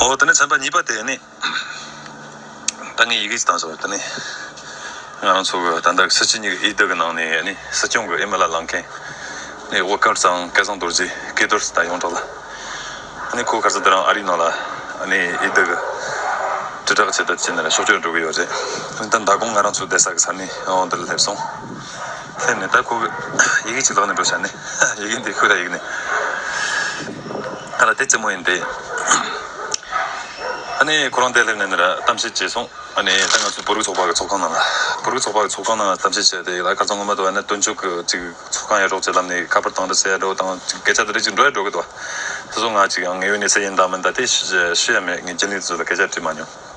འོ་དེ་ནས་ཚན་པ་གཉིས་པ་དེ་ནི། ད་ངས་ཡི་གེ་ཅིག་བཏང་སོང་དེ་ནི། ང་རང་ཚོ་གི་ད་ལྟ་གི་སྲིད་སྤྱི་གཉིས་ཀྱི་ཨི་བདག་གི་ནང་ནས་ནི་སྲིད་སྐྱོང་གི་ཨི་མི་ལ་ལངས་མཁན། ནི་དབུ་དཀར་ཚང་སྐལ་བཟང་རྡོར་རྗེ་སྐལ་རྡོར་ཟེར་ད་ཡོངས་གྲགས་ལ། ནི་ཁོ་གར་ས་དེ་རང་ཨ་རིའི་ནང་ལ་ནི་ཨི་བདག་གི། དྲིལ་བསྒྲགས་བྱེད་ཐབས་བྱས་ནས་ལ་ཕྱོགས་བསྐྱོད་འགྲོ་གི་ཡོད་རེད། ད་ད་དགོང་ང་རང་ཚོ་བསྡད་ས་གི་ས་ནི་འོང་དེར་སླེབས་སོང། ཚད་མེད་ལྟར་ཁུག། ཡི་གེ་གཅིག་ལོག་ནས་འགྲོ་བྱ་ནི། ཡི་གེ་འདི་ཁོས་ད་ཡིག་ནི། ང་ལ་དེ་རྩེད་མོ་ཡིན་ཏེ། ཨ་ནི་ཁོ་རང་དེར་སླེབས་ནས་ནི་ར་གཏམ་བཤད་བྱས་སོང། ཨ་ནི་ད་ང་ཚོའི་བོད་རིགས་ཚོགས་པ་གི་ཚོགས་ཁང་ནང་ལ། བོད་རིགས་ཚོགས་པ་གི་ཚོགས་ཁང་ནང་ལ་གཏམ་བཤད་བྱས་ཏེ་ཡིག་ལ་སྐར་ཚོང་ངོ་མ་དུ་བ་ནི་སྟོན་མཇུག་གི་ཅིག་ཚོགས་ཁང་ཡར་འབྲོག་ཅེས་ལམ་ནས་ཁ་པར་བཏང་རེ་ཟེར་ཡར་འབྲོག་བཏང་སྐད་ཆ་དེ་རིགས་ཅིག་འགྲོ་ཡར་འབྲོག་གི་དུ་བ། དེ་ཚོ་ངག་ཅིག་ཡང་ངའི་ཡུལ་ནས་ཟེར་ཡིན་དང་མིན་ད་ལྟའི་ཤུ་ཡ་མེད་ངས་རྒྱུན་ལས་དེ་ཚོ་ལ་སྐད་ཆ་དྲིས་མ་མྱོང།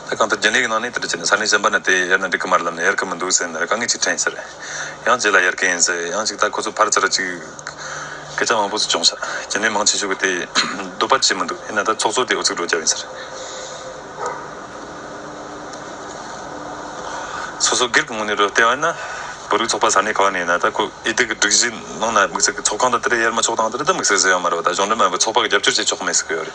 ལྷ་ཁང་དུ་རྒྱུན་ལས་ཀྱི་ནང་ནས་དེར་ཁྱེད་ནས་ས་གནས་གཞན་པ་ནས་དེ་ཡར་ནས་འགྲིག་གི་མ་རེད་ལབ་ནས་ཡར་གི་མི་འདུག་ཟེར་ནས་དཀའ་ངལ་ཅིག་འཕྲད་ཡིན་ཟེར། ཡང་རྗེས་ལ་ཡར་གི་ཡིན་ཟེར་ཡང་ཅིག་ད་ཁོ་ཚོ་ཕར་ཚེ་ར་ཅིག། སྐད་ཆ་མང་པོ་ཚོ་སྐྱོང་ཤག་རྒྱུན་ལས་མང་ཆེ་ཤོས་ཀྱི་དེ་སྡོད་པར་བྱེད་མི་འདུག་ཡིན་ན་ད་ཚོགས་གཙོ་དེ་འུ་ཚིག་འགྲོ་རྒྱབ་ཡིན་ཟེར། སོ་སོ་སྒེར་གྱི་ངོས་ནས་རོལ་བལྟས་པ་ཡིན་ན། བོད་རིགས་ཚོགས་པ་ས་གནས་གང་ནས་ཡིན་ན་ད་ཁོ་ཨི་སྡིག་གི་སྒྲིག་གཞི་ནང་ན་དམིགས་བསལ་གྱི་ཚོགས་ཁང་དང་དེ་ར་ཡར་མ་ཕྱོགས་སྟངས་དེ་ར་ད་དམིགས་བསལ་ཟེར་ཡོད་མ་རེད་བ་ད་གཞུང་འབྲེལ་མ་ཡིན་པའི་ཚོགས་པ་གི་རྒྱབ་སྐྱོར་བྱེད་ཆོག་གི་མེད་ཟེར་གི་ཡོད་རེད།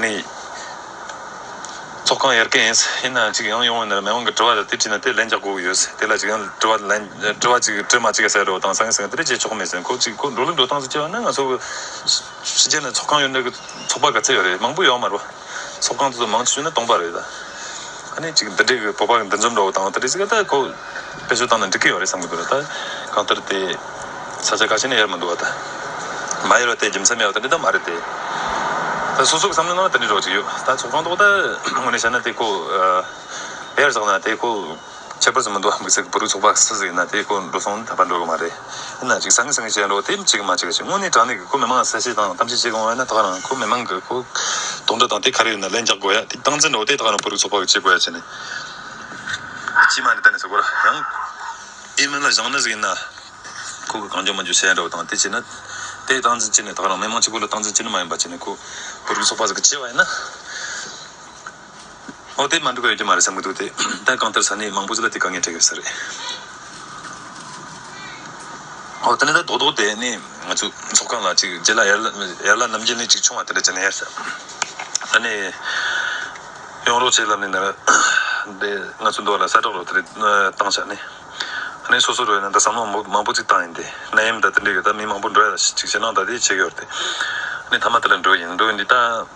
ནི། ཚོགས་ཁང་ཡར་སྐད་ཡིན། ཡིན་ནའང་ཅིག་ཡང་ཡོང་བའི་ནི་མེ་དབང་གི་དྲི་བ་དེ་དྲིས་ནས་དེ་ལན་རྒྱག་དགོས་ཡོད། དེ་ལ་ཅིག་ཡང་དྲི་བ་ལན། དྲི་བ་ཅིག་དྲི་མ་ཅིག་ཟེར་རོ་དང་སང་ངེ་སང་ངེ་དེ་འདྲས་བྱེད་ཆོག་མི་སྲིད་ཁོ་ཅིག་ཁོ་འགྲོ་ལུགས་འགྲོ་སྟངས་སུ་སྐྱེ་བ་ནི་ང་ཚོ་གི། ཕྱི་རྒྱལ་ནས་ཚོགས་ཁང་ཡོད་འདྲ་གི་ཚོགས་པ་ག་ཚད་ཡོད་རེད་མང་པོ་ཡོད་མ་རེད་པ། ཚོགས་ཁང་དེ་ཚོ་མང་ཆེ་ཤོས་ནི་སྟོང་པ་རེད། གནས་གཅིག་འདི་འདྲའི་བོད་པ་འདི་འཛོམས་འགྲོ་བ་དང་དེ་འདྲའི་ཚིག་ལ་བེད་སྤྱོད་བཏང་ན་འགྲིག་གི་ཡོད་རེད་བསམ་གི་འདུག་ད་གང་ལྟར་དེ་ས་ཆ་ག་ཞིག་ནས་ཡར་མི་འདུག་བ་ད་མ་ཡར་བ་དེ་རྒྱུ་མཚན་མེད་བ་དེ་འདྲ་ད་མ་རེད་དེ། ད་སོ་སོ་གི་བསམ་བློའི་ནང་ལ་དེ་འདྲའི་རོགས་ཅིག་ཡོད་ད་ཚོགས་ཁང་ཐོག་ད་དངོས་གནས་བཤད་ན་དེ་ཁོ་ཡར་བཞག་ན་དེ་ཁོ་ཁྱད་པར་ཟིག་མི་འདུག་བ་དམིགས་བསལ་གི་བོད་རིགས་ཚོགས་པ་ཁག་སུ་ཟིག་ཡིན་ན་དེ་ཁོ་འགྲོ་སོང་ད་བར་འགྲོ་གི་མ་རེད། ཡིན་ན་ཅིག་སང་གི་སང་གི་བྱས་འགྲོ་དེབ་གཅིག་གི་མ་བྱས་གཅིག་དངོས་གནས་དྲང་གནས་ཀྱི་ཁོ་མི་མང་གསལ་བཤད་དང་གཏམ་བཤད་བྱེད་དགོས་ཡོད་ན་ད་ག་རང་ཁོ་མི་མང་གི་ཁོ་གདོང་འདྲ་དང་དེ་ག་རེ་ཡོད་ན་ལན་རྒྱག་དགོས་ཡ་དེ་སྟངས་འཛིན་འགྲོ་དེ་ད་ག་རང་བོད་རིགས་ཚོགས་པ་གི་བྱེད་དགོས་ཡ་བྱས་ནས་སྤྱི་མ་ནས་ད་ནས་བྱེད་དགོས་ར་ཡང། ཨེ་མིན་ལ་བཞག་ན་ཟིག་ཡིན་ན་ཁོ་གི་གང་འགྱོ་མ་འགྱོ་བྱས་འགྲོ་དང་དེ་བྱས་ན་དེ་སྟངས་འཛིན་བྱས་ནས་ད་ག་རང་མི་མང་གཅིག་པུ་ལ་སྟངས་འཛིན་བྱས་ནི་མ་ཡིན་པ་བྱས་ནས་ཁོ་བོད་རིགས་ཚོགས་པ་ཟིག་གི་བྱས་བ་ཡིན་ན། ཨོ་དེ་མ་འགྲིག་པ་ཡོད་ཀྱི་མ་རེད་བསམ་གྱི་འདུག་དེ་ལྟར་གང་ལྟར་ས་གནས་མང་པོ་ཚོ་ལ་དེ་དཀའ་ངལ་འཕྲད་ཀྱི་ཡོད་ས་རེད། ཨོ་ད་ནི་ད་རྡོག་རྡོག་དེ་ནི་ང་ཚོའི་ཚོགས་ཁང་ལ་གཅིག་རྗེ་ལ་ཡར་ལ་རྣམ་རྒྱལ་ནས་གཅིག་ཆུང་བ་དེ་འདྲ་བྱས་ན་ཡག་ས་རེད། ད་ནི་ཡོང་རོགས་བྱས་ལབ་ནས་ནར་དེ་ང་ཚོའི་འདོགས་ལ་ས་དྲག་རོགས་དེ་རེད་བཏང་བྱ་ནི་ཨ་ནི་སོ་སོ་རོལ་ན་ད་བསམ་བློ་མང་པོ་ཚིག་བཏང་ཡིན་དེ་ན་ཡིན་མི་ད་དེ་འདྲ་ཡོད་ད་མི་མང་པོ་འགྲོ་ཡ་ལ་ཅིག་བྱས་ན་ད་དེ་བྱས་ཀྱི་ཡོད་དེ་ཨ་ནི་ད་མ་དེ་ལ་འགྲོ་ཡིན་འགྲོ་ཡིན་འདི་ད།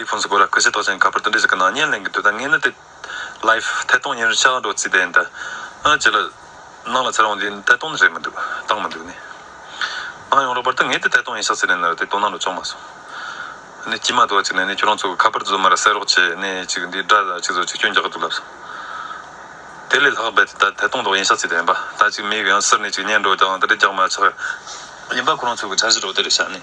iPhone སྐོར་ལ་སྐུ་ཚེ་ཏོག་ཅན་ག་པར་ཏུ་འབྲི་ཟིག་གི་ནང་བརྙན་ལེན་གི་འདུག་ད་ངས་ནི་དེ། Life། ཐད་གཏོང་བརྙན་རིས་ཆ་གང་སྒྲོག་རྩིས་བསྡད་ཡིན་ད། ཨ་ཅེ་ལགས། ནང་ལ་ཚེ་རང་འདི་ཐད་གཏོང་ནི་རེད་མི་འདུག་བཏང་མི་འདུག་ནས། ཨང་ཡོང་རོགས་པར་ད་ངས་དེ་ཐད་གཏོང་ཡིན་ཤག་ཚེ་རིང་ནི་དེ་དོ་སྣང་ལ་བཅོང་མ་སོང། ནས་ཀྱིས་མ་དོ་ཅིག་ནས་ནས་ཁྱོད་རང་ཚོ་གི་ཁ་པར་དུ་བཟོ་མ་ར་གསལ་རོགས་བྱས་ནས་ཅིག་འདིའི་སྒྲ་ལ་ཅིག་བཟོ་ཅིག་སྐྱོན་རྒྱག་གི་འདུག་ལབ་སོང། དེ་ལས་ལྷག་རྦད་དེ་ད་ཐད་གཏོང་སྒྲོག་ཡིན་ཤག་ཚེ་དེ་ཡིན་པ་ད་ཅིག་མེད་གི་ཡང་སིར་ནས་ཅིག་བརྙན་སྒྲོག་རྒྱག་ཨང་ད་རེ་རྒྱག་མ་ཆག། ཡིན་པ་ཁོ་རང་ཚོ་གི་འཆར་གཞི་སྒྲོག་དེ་རེད་ཤག་ནས།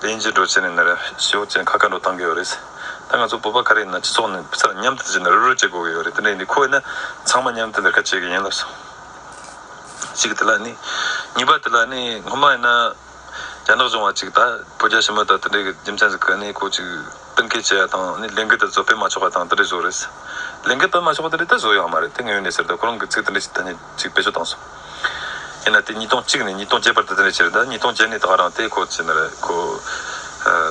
དེ་ཡིན་ཕྱིར་འགྲོ་བྱེད་ནི་ནི་རེད་ཞེས་ཨོ་རྒྱན་ཁ་བཀའ་འགྲོ་གཏང་གི་ཡོད་རེད། ད་ང་ཚོ་བོད་པ་ག་རེ་ཡིན་ན་སྤྱི་ཚོགས་ནས་ཕྱིར་མཉམ་སྡེབ་བྱེད་ནི་རུལ་རུལ་བྱེད་དགོས་ཀྱི་ཡོད་རེད་དེ་འདྲ་ཡིན་དུས་ཁོ་ཡིན་ན་ཚང་མ་མཉམ་སྡེབ་འདིར་ཁ་བྱེད་ཀྱི་ཡིན་ལབ་སོང། གཅིག་དེ་ལ་ནི། གཉིས་པ་དེ་ལ་ནི་སྔོན་མ་ཡིན་ན། རྒྱ་ནག་གཞུང་བ་གཅིག་ད་བོད་རྒྱ་ཞི་མོལ་དང་དེ་འདྲའི་གི་རྒྱུ་མཚན་ཟིག་གི་ནི་ཁོ་ཅིག་གཏན་འཁེལ་བྱས་ཡ་དང་ནི་ལས་འགུལ་དེ་བཟོ་སྤེལ་མ་ཆོག་པ་དང་དེ་འདྲའི་བཟོ་རེས། ལས་འགུལ་སྤེལ་མ་ཆོག་པ་དེ་འདྲའི་ད་བཟོ་ཡག་མ་རེད་དེ་ངའི་ཡོན་ཏན་ཟེར་དུ་ཁོ་རང་གི་ཚིག་དེ་འདྲའི་ཐ་སྙད། ཅིག་བེད་སྤྱོད་བཏང་སོང། ཡིན་ན་དེ་ཉིས་སྟོང་གཅིག་ནས་ཉིས་སྟོང་བརྒྱད་བར་དུ་དེ་འདྲ་བྱས་རེད་ད་ཉིས་སྟོང་བརྒྱད་ནས་ད་བར་རང་ལྟའི་ཁོ་ཚེ་ན་རེད་ཁོ།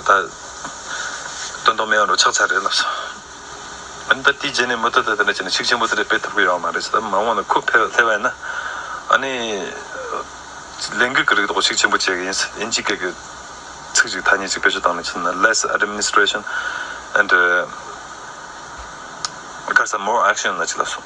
ད། སྟོན་ཐོག་མའི་ཨང་རུ་ཆགས་ཚར་རེད་ལབ་སོང། འོན་ཏེ་དེའི་རྗེས་ནས་མུ་མཐུད་དུ་དེ་འདྲ་བྱས་ནས་ཤུགས་ཆེན་པོ་དེ་འདྲ་སྤེལ་ཐུབ་ཀྱི་ཡོད་མ་རེད་ཟེར་ན་མ་འོངས་ན་ཁོ་ཕལ་བ་ཡིན་ན། ཨ་ནི། ལས་འགུལ་གྱི་རིགས་ཐོག་ཤུགས་ཆེན་པོ་བྱེད་ཀྱི་ཡིན་ཨིན་ཇི་སྐད་གི། ཚིག་ཅིག་ཐ་སྙད་ཅིག་བེད་སྤྱོད་བཏང་ནས་བྱས་ན less administration and དཀར་ས more action ལ་ཅིག་ལབ་སོང།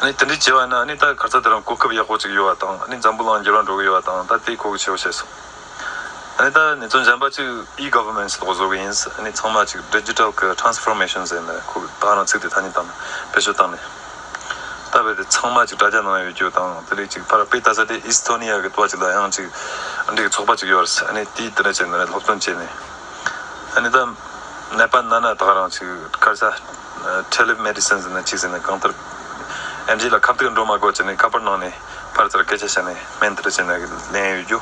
ནས་དེ་འདྲའི་བྱས་པ་ན་ནི་ད་གར་ཚ་དེ་རང་གོ་སྐབས་ཡག་པོ་ཅིག་ཡོད་བ་དང་ནི་འཛམ་བུ་གླང་འགྱུར་བ་འགྲོ་གི་ཡོད་བ་དང་ད་དེ་གོ་གི་བྱེད་བོ་བྱས་སོང་ནས་ད་ནེ་ཙོ་འཇམ་པ་གཅིག E Governments ལོག་བཟོ་གི་ཡིན་ནི་ཚང་མ་ཅིག Digital གི Transformation ཟེར་ནས་ཁོ་གི་ད་རང་ཚིག་དེ་ཐ་སྙད་དང་བེད་སྤྱོད་བཏང་ནས་ད་བས་དེ་ཚང་མ་ཅིག་དྲ་རྒྱ་ནང་ཡོད་རྒྱུ་དང་དེ་ལས་ཅིག་ཕར་པེ་ད་ས་དེ Estonia གི་ཏུ་བ་ཅིག་ལ་ཡང་ཅིག་འདྲེ་གི་ཚོགས་པ་ཅིག་ཡོད་རེད་ནི་དེས་དེ་འདྲ་བྱས་ནས་སློབ་སྟོན་བྱས་ནས། ཨ་ནི་ད། ནད་པ་ན་ན་དག་རང་ཅིག་སྐར་ཆ། Teleb Medicines ནས་ཅིག་ཟེར་ནས་གང་ལྟར། ཨེམ་རྗེ་ལ་ཁ་བཏུད་འགྲོ་མ་དགོས་ཅེས་ནས་ཁ་པར་གནང་ནས་ཕར་ཚུར་སྐད་ཆ་བཤད་ནས་སྨན་དེ་འདྲ་བྱས་ནས་ལེན་ཡོད་རྒྱུ།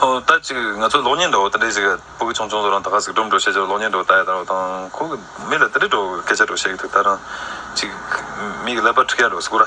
ཨོ་ད་ཅིག་ང་ཚོ་གློག་བརྙན་འདྲ་བོ་དེ་འདྲ་ཞིག་སྤུ་གུ་ཆུང་ཆུང་ཚོ་རང་ད་ག་ཟིག་སྒྲོམ་འགྲོ་བཤད་རྒྱུར་གློག་བརྙན་འདྲ་བོ་ད་ཡ་ད་རོ་དང་ཁོ་གི་མི་ལ་དེ་འདྲ་འགྲོ་སྐད་ཆ་འགྲོ་བཤད་ཀྱི་འདུག་ད་རང་ཅིག་མིག་གི་ཀླད་པ་འཁྲུགས་ཡ་འགྲོ་སི་ཀུ་ར།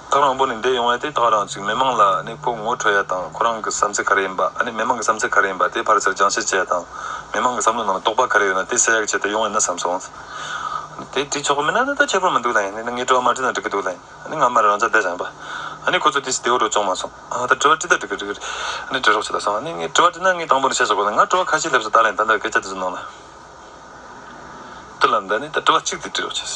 ཐག་རིང་པོ་ནས་འདས་ཡོང་བས་དེ་ཐག་རིང་ཅིག་མི་མང་ལ་ནི་ཁོ་ངོ་འཕྲོད་ཡ་དང་ཁོ་རང་གི་བསམ་ཚུལ་ག་རེ་ཡིན་པ་ཨ་ནི་མི་མང་གི་བསམ་ཚུལ་ག་རེ་ཡིན་པ་དེའི་ཕར་ཆེར་སྦྱང་བཤད་བྱས་ཡ་དང་མི་མང་གི་བསམ་བློ་ནང་རྟོག་པ་ག་རེ་ཡོད་ན་དེ་གསལ་ཡག་བྱས་ཏེ་ཡོང་ཡིན་ན་བསམ་སོང། དེ་བྲིས་ཆོག་གི་མིན་ན་ནི་ད་ཁྱད་པར་མི་འདུག་ལ་ཡིན་ནའི་ནི་ངས་དྲི་བ་མ་བྲིས་ན་འགྲིག་གི་འདུག་ལ་ཡིན་ནའི་ང་མར་རང་ཅག་བསྡད་བཞག་ཡིན་པ་ཨ་ནི་ཁོ་ཚོས་དེ་སྲིད་དེ་འོག་འགྲོ་ཆོག་མ་སོང་ཨ་ད་དྲི་བ་བྲིས་ད་འགྲིག་གི་འགྲིག་གི་རེད་ཨ་ནི་བྲི་རོགས་བྱས་ད་སོང་ཨ་ནི་ངས་དྲི་བ་བྲིས་ན་ངས་དང་པོ་ནས་བཤད་ཆོག་གི་ལ་ང་དྲི་བ་ཁ་ཤས་སླེབས་ས་ད་ལ་ཡིན་ད་ལྟ་སྐད་ཆ་དེ་ཚོ་གནང་ལ་དུ་ལ་ནི་ད་ནི་ད་དྲི་བ་གཅིག་དེ་བྲིས་རོགས་བྱས།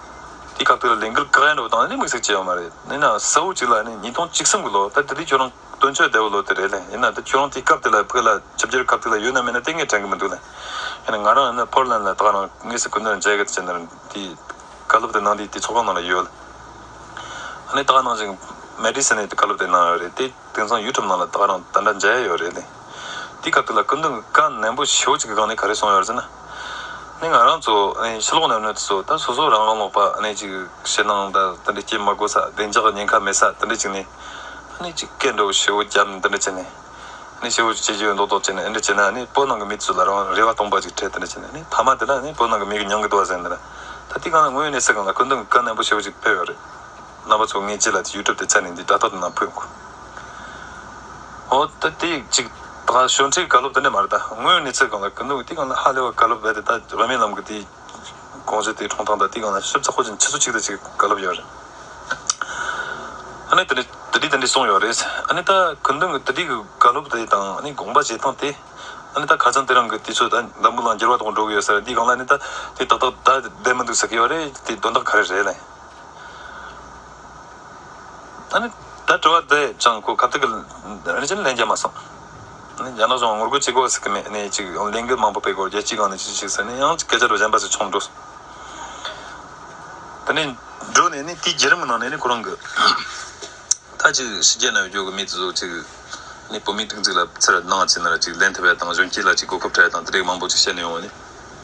དེའི་སྐབས་དེར་ལིང་ཀིལ་ཀིརན་རུ་དང་ནི་དམིགས་བསལ་བྱས་པ་མ་རེད། ཡིན་ནའང་གསལ་བོ་གཅིག་ལ་ནི་ཉིས་སྟོང་གཅིག་གསུམ་གྱི་ལོ་ད་ལྟ་འདི་ཁྱོད་རང་སྟོན་ཆོས་བདེ་བོ་ལོ་དེ་རེད་ལེ་ཡིན་ན་ད་ཁྱོད་རང་དེའི་སྐབས་དེ་ལ་བོད་ལ་ཆབ་འཇལ་སྐབས་དེ་ལ་ཡོད་ན་མེད་ན་ལྟས་ངན་དྲན་གི་མི་འདུག་ལེ་ཡིན་ན་ང་རང་ཡིན་ན་ཕོར་ལན་ལ་ད་རང་དངོས་སུ་གུས་ནར་མཇལ་གི་ད་ཅི་ནར་དེའི་བཀའ་སློབ་དེ་ནང་དེའི་དེའི་ཚོགས་ཁང་ནང་ལ་ཡོད་ལེ་ཡིན་ན་ད་ག་ནང་བཞིན་མེ་ཏྲི་སི་ནའི་དེ་བཀའ་སློབ་དེ་གནང་ཡོད་རེད་དེ་དེང་སང་ཡུལ་གྲུབ་ནང་ལ་ད་རང་ད་འདྲ་མཇལ་ཡོད་རེད་ལེ་དེའི་སྐབས་དེ་ལ་སྐུ་མདུན་གྱི་བཀའ་ནན་པོ་ཞེ་བོ་གཅིག་གི་སྒང་ནས་ག་རེ་གསུངས་ཡོད་ཟེར་ན། ནས་ང་རང་ཚོ་ཕྱི་ལོགས་ནས་གནོད་སོ་ད་སོ་སོ་རང་རང་ལོག་པ་ནས་ཅིག་ཕྱི་ནང་ད་དེ་འདྲ་སྐྱེ་མ་དགོས་ས་བདེ་འཇགས་ཉེན་ཁ་མེད་ས་དེ་འདྲ་ཅིག་ནས་ནས་ཅིག་སྐད་འགྲོ་བའི་ཤི་བོ་རྒྱབ་ནས་དེ་འདྲ་བྱས་ནས་ནས་ཤི་བོ་བྱེད་རྒྱུ་མདོག་མདོག་བྱས་ནས་འདྲ་བྱས་ན་ནས་བོད་ནང་གི་མི་ཚོས་ལ་རང་རེ་བ་སྟོང་པ་ཅིག་འཕྲད་དེ་འདྲ་བྱས་ནས་ནས་ཕ་མ་དེ་ལ་ནས་བོད་ནང་གི་མི་གི་མྱང་གི་དུ་བ་ཟེར་ནས་ད་དེ་གང་ལ་ངོས་ནས་ཟེར་གང་ལ་ཀུན་དུ་གི་བཀའ་ནན་པོ་ཆེ་བོ་ཅིག་ཕེབས་ཡོད་རེད། རྣམ་པ་ཚོ་ངས་ཅི་ལ་དེ youtube དེ་ཚར་ནས་འདི་དྲ་ཐོག་ཏུ་ནང་ཕུད་འགོ། ཨོ་ད་དེ་ཡིག་ཅིག་ད་ཞོ་འཁྲིའི་དགའ་སློབ་དེ་འདྲས་མ་རེད་ད་ངོས་ཡོང་ནས་ཚིག་གང་ལ་གི་འདུག་དེ་གང་ལ་ཧ་ལས་བ་དགའ་སློབ་རེད་དེ་ད་རོ་མེད་ལམ་གི་དེ་གོང་ཚོད་དེ་གྲོང་ཐང་ད་དེ་གང་ལ་ཞིབ་ཚགས་ཧོ་ཅིན་ཕྱི་ཚོ་གཅིག་ད་ཅིག་དགའ་སློབ་ཡོད་རེད་ཨ་ནི་དེ་འདྲས་དེ་འདྲས་དེ་འདྲས་སོང་ཡོད་རེད་ཨ་ནི་ད་གི་འདུག་དེ་འདྲས་གི་དགའ་སློབ་དེ་དང་ཨ་ནི་དགོངས་པ་བཞེས་སྟངས་དེ་ཨ་ནི་ད་ག་ཚང་དེ་རང་གི་དེ་ཚོ་ད་མདའ་མོ་ལང་རྒྱལ་བ་དག་འགྲོ་གི་ཡོད་ས་རེད་དེ་གང་ལ་ཨ་ནི་ད་དེ་ཏག་ཏག་ད་བསྡད་མི་འདུག་ཟེར་གི་ཡོད་རེད་དེ་དོན་དག་ག་རེ་རེད་ལེ། ད་ནི་ད་དྲི་བ་འདི་ཅང་གོ་སྐབས་ཐུག་གི་རེད་ཅེས་ལན་བརྒྱབ་མ་སོང། རྒྱ་ནག་གཞུང་ངོ་རྒོལ་བྱེད་དགོས་ཟེར་གི་མེད་ནས་ཅིག་ཡང་ལས་འགུལ་མང་པོ་སྤེལ་དགོས་རྒྱལ་སྤྱིའི་སྒང་ནས་ཅིག་ཅིག་ཟེར་ནས་ཡང་སྐད་ཆ་རུ་གཞན་པ་ཞིག་ཆོངས་འགྲོ་སོང། དེ་ནས་འགྲོ་ནས་ནི་དེའི་རྒྱུད་རིམ་གི་ནང་ནས་ནི་ཁོ་རང་གི་མཐའ་ཅིག་ཕྱི་རྒྱལ་ནང་བསྐྱོད་ཀྱི་མི་དེ་ཚོ་ཅིག་ནི་བོད་མིའི་སྒྲིག་འཛུགས་ལ་ཚེར་སྣང་བྱེད་ནར་ཅིག་ལན་ཐེབས་པ་དང་གཞོན་སྐྱེས་ལ་ཅིག་གོ་སྐབས་འཕྲལ་དང་དེ་རིགས་མང་པོ་ཅིག་བཤད་ནས་ཡོང་བ་ནི།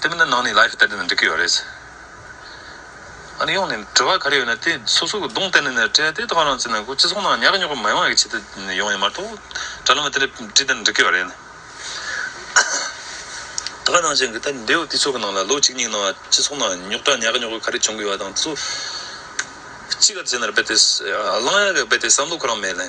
དེ་མིན་ན་ནང་ནས live བལྟས་ན་འགྲིག་གི་ཡོད་རེད། ཨ་རི་ཡོང་ནས་དྲི་བ་ག་རེ་ཡོད་ན་དེ་སོ་སོ་གི་གདོང་གཏད་ནས་ནས་དྲི་དེ་དག་རང་བཙན་ནང་སྤྱི་ཚོགས་ནང་ཉག་གི་ཉོག་གི་མ་ཡོང་ཡག་ཆེད་དུ་ཡོང་ཡ་མ་གཏོགས་དྲ་ལམ་དེ་ལས་བྲིས་ད་འགྲིག་གི་ཡོད་རེད། ད་ག་ནང་བཞིན་གི་ད་འབྲེལ་ཡོད་དུས་ཚོད་གི་ནང་ལ་ལོ་གཅིག་གཉིས་གི་ནང་སྤྱི་ཚོགས་ནང་ཉོག་དྲ་ཉག་གི་ཉོག་གི་ག་རེ་བྱུང་གི་ཡོད་ད་དང་དུ་ཚོད་གཅིག་ག་རེ་བྱས་ན་རེ་རྦད་དེ་གླང་ཡག་གི་རྦད་དེ་བསམ་བློ་ཁོ་རང་མེད་ལེ།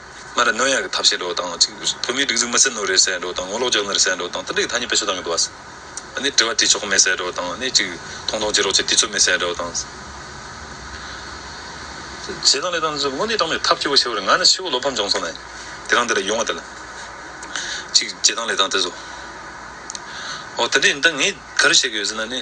སྔར་རྣོན་ཡར་གྱི་ཐབས་ཤེས་འགྲོ་བ་དང་གཅིག། བོད་མིའི་སྒྲིག་འཛུགས་མི་གསལ་ནོར་རེ་གསལ་འགྲོ་བ་དང་ངོ་ལོག་རྒྱག་ནི་རེ་གསལ་འགྲོ་བ་དང་ལྟ་བྲལ་གྱི་ཐ་སྙད་བེད་སྤྱོད་གཏང་གི་འདུག་བ། ནི་དྲི་བ་དྲིས་ཆོག་མེད་གསལ་འགྲོ་བ་དང་ནི་གཅིག། མཐོང་མཐོང་བྱེད་རོགས་བྱེད་དུས་ཚོད་མེད་གསལ་འགྲོ་བ་དང། བྱས་ཙང་ལས་དང་དངོས་གནས་དྲང་མོད་ཐབས་སྐྱོ་བོ་ཆེ་བར་ང་ནི་ཕྱི་བོར་བློ་ཕམ་འབྱུང་སོང་ནས། དེ་རང་འདི་ལ་ཡོང་བ་དེ་ལ། གཅིག། བྱས་ཙང་ལས་དང་དེ་བཟོ། འོ་དེ་འདྲས་ཡིན་ད་ངས་ག་རེ་བྱེད་གི་ཡོད་ཟེར་ན་ནི།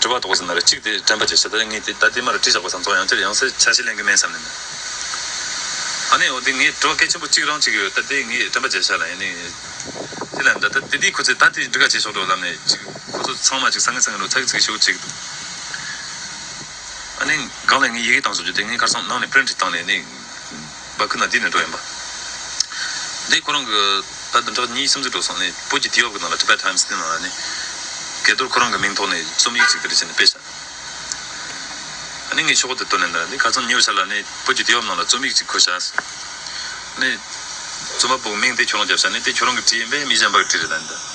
དྲི་བ་དོགས་པ་ཟེར་ན་རེ་གཅིག་དེ་དྲན་པ་བྱས་ཞེ་ད་ངས་དེ་ད་ལྟའི་མ་རེ་བྲིས་བཞག་པ་ཟམ་ཚོགས་ཡང་བསྐྱར་ཡང་སེ་ཆ་ཞིག་གླེང་གི་མེད་བསམ་ནས་ནི་ཨ་ནི་འོ་དེ་ངས་དྲི་བ་གལ་ཆེན་པོ་གཅིག་རང་བྱེད་ཀྱི་ཡོད་ད་དེ་ངས་དྲན་པ་བྱས་ཞག་ལ་ཡིན་ནི་དེ་ལ་ད་ད་དེ་དེ་ཁོ་ཚོས་ད་དེ་འདྲི་ག་བྱེད་ཆོག་འགྲོ་ལབ་ནས་ཅིག་ཁོ་ཚོ་ཚང་མ་ཅིག་ས་ངན་ས་ངན་རོ་ཚ་གི་ཚིག་གི་ཤོད་ཅིག་འདུག་ཨ་ནི་གང་ལ་ངས་ཡི་གེ་གཏང་བཟོ་རྒྱུ་དེ་ངའི་ཁར་སོང་གནང་ནས print བཏང་ནས་ནི། བ་ཁུ་ན་འདི་ནས་འགྲོ་ཡིན་པ། དེ་ཁོ་རང་གི། ད་བདུན་ཕྲག་གཉིས་གསུམ་ཚུན་འགྲོ་སོང་ནས་བོད་ཀྱི་དུས་བབ་ཀྱི་ནང་ལ Tibet Times དེ་ནང་ལ་ནི། གལ་དུར་ཁོ་རང་གི་མིང་ཐོག་ནས་རྩོམ་ཡིག་ཅིག་འདིར་བྱས་ནས་སྤེལ་བྱ། ཨ་ནི་ངས་ཤོག་བུ་དེ་བཏོན་ནས་ནི་ག་ཚོད་ཉོ་བྱ་ལ་ནི་བོད་ཀྱི་དུས་བབ་ནང་ལ་རྩོམ་ཡིག་ཅིག་འཁོད་བྱ། ནི། རྩོམ་པ་པོ་གི་མིང་དེ་ཁྱོད་རང་རྒྱབ་བྱ་ནི་དེ་ཁྱོད་རང་གི་བྲིས་ཡིན་པས་མི་གཞན་པར་བྲིས་རེད་ད་ནི་ད།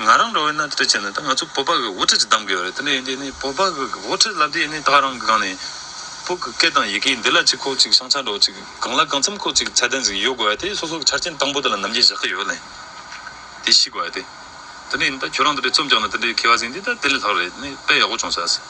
ང་རང་འགྲོ་བའི་སྣ་ཁྲིད་བྱས་ནས་ད་ང་ཚོའི་སྤོབས་པ་གི་དབུ་ཁྲིད་ཅིག་གདམ་དགོས་པ་རེད་དེ་ནས་ཡིན་དུས་ནས་སྤོབས་པ་གི་དབུ་ཁྲིད་ལབ་དུས་ཡིན་ནས་ད་རང་གི་སྒང་ནས་བོད་ཀྱི་སྐད་དང་ཡི་གེ་འདི་ལ་ཅིག་ཁོག་ཅིག་ཤང་ཆ་འགྲོ་ཅིག་གང་ལ་གང་འཚམས་ཁོག་ཅིག་ཚད་ལྡན་ཟིག་ཡོད་དགོས་པ་དེ་སོ་སོ་གི་ཆ་རྐྱེན་དང་པོ་དེ་ལ་ནམ་རྒྱུན་བཞག་གི་ཡོད་ལེ་དེ་ཤེས་དགོས་པ་དེ་ནས་ཡིན་ད་ཁྱོད་རང་དེ་འདྲའི་རྩོམ་རྒྱག་ནས་དེ་འདྲའི་མཁས་བ་ཟིན་དུས་ད་དེ་ལས་ལྷག་རེད་དེ་ནས་དཔེ་ཡག་པོ་བྱུང་ཟ།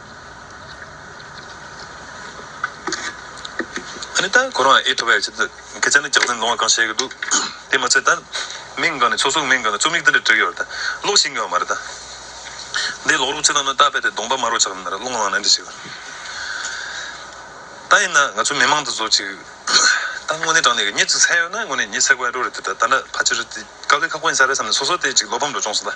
ཨ་ནི་ད་ཁོ་རང་ཨེ་ཁྲོ་བས་ཀྱི་སྐད་ཆ་ནི་རྒྱག་ཚུན་ལོང་བ་གང་བཤད་གི་འདུག་དེ་མ་ཚད་ད་མིང་གང་ནས་ཚོགས་ཟུར་མིང་གང་ནས་རྩོམ་ཡིག་འདི་འདྲ་བྲིས་ཡོད་རེད་ད་ཀློག་ཤེས་ཀྱི་ཡོད་མ་རེད་ད་འདི་ཀློག་རོགས་ཅི་ལྟར་ནོ་ད་ཕལ་ཏེ་གདོང་པ་དམར་བོ་ཆགས་ནི་མ་རེད་ཀློག་ལངས་ནས་འདྲི་ཞིག་ད་ཡིན་ན་ང་ཚོའི་མི་མང་དུ་བཟོ་ཅིག་ད་དངོས་གནས་དྲང་གནས་ཀྱི་གཉིད་ཅིག་ཚལ་ཡོད་ན་དངོས་གནས་གཉིད་ཚལ་དགོས་ཡ་འགྲོ་རེད་དེ་ད་ད་འདྲ་ཕ་ཕྱི་རུ་དཀའ་ལས་ཁག་པོ་ཡིན་ས་རེད་བསམ་ནས་སོ་སོ་ལྟས་ཅིག་བློ་ཕམ་འགྲོ་བྱུང་སོང་ད།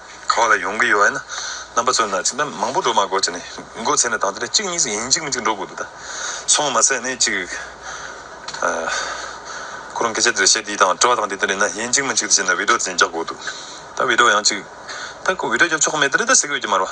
ག་བ་ལ་ཡོང་གི་ཡོད་ཨེ་ན། རྣམ་པ་ཚོས་ན་ཅིག་ན་མང་པོ་འགྲོ་མ་དགོས་ཅིག་ནས་འགོ་ཚེས་ན་དང་དེ་ལས་གཅིག་གཉིས་ཡིན་གཅིག་མིན་གཅིག་འགྲོ་དགོས་འདུག་ད། ཚོང་མ་ཟད་ནས་ཅིག། ཁོ་རང་སྐད་ཆ་དེ་ལ་བཤད་དེ་དང་དྲི་བ་དང་དེ་ལྟར་ཡིན་ན་ཡིན་གཅིག་མིན་གཅིག་དེ་བྱས་ན་བིད་འགྲོ་དེ་རྒྱག་དགོས་འདུག་ད་བིད་འགྲོ་ཡང་ཅིག། ད་ཁོ་བིད་འགྲོ་རྒྱབ་ཆོག་གི་མེད་དེ་རེད་ད་ཟེར་གི་ཡོད་ཀྱི་མ་རེད་བ།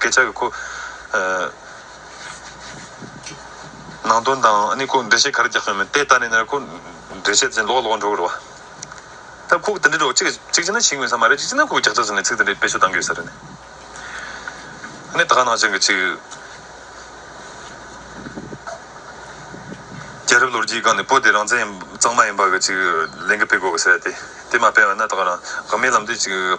སྐད་ཆ་གི་ཁུ། ནང་དོན་དང་ཨ་ནི་ཁུ་འགྲེལ་བཤད་ག་རེ་རྒྱག་གི་ཡོད་མེད་དེ་ལྟ་ནས་ནས་ཁུ། འགྲེལ་བཤད་ཅན་ལོག་ལོག་འགྲོ་གི་རེད་བ། ད་ཁུག་དེ་འདྲའི་རོགས་གཅིག་གཅིག་བྱས་ན་ཞིག་ཡོད་ས་མ་རེད་གཅིག་བྱས་ན་ཁུག་རྒྱག་ཆགས་ཟེར་ནས་ཚིག་དེ་འདྲའི་དཔེ་ཆུ་གཏང་གི་ཡོད་ས་རེད་ནས། ཨ་ནི་ད་ག་ནང་བཞིན་གྱི་ཅིག། རྒྱལ་རབས་ལོ་རྒྱུས་སྒང་ནས་པོ་དེ་རང་བཙན་ཡིན་གཙང་མ་ཡིན་པ་གི་ཅིག་ལན་གྱི་སྤེལ་དགོས་གི་ས་རེད་དེ་དེ་མ་སྤེལ་བ་ན་ད་ག་རང་དགའ་མའི་ལམ་དུ་ཅིག།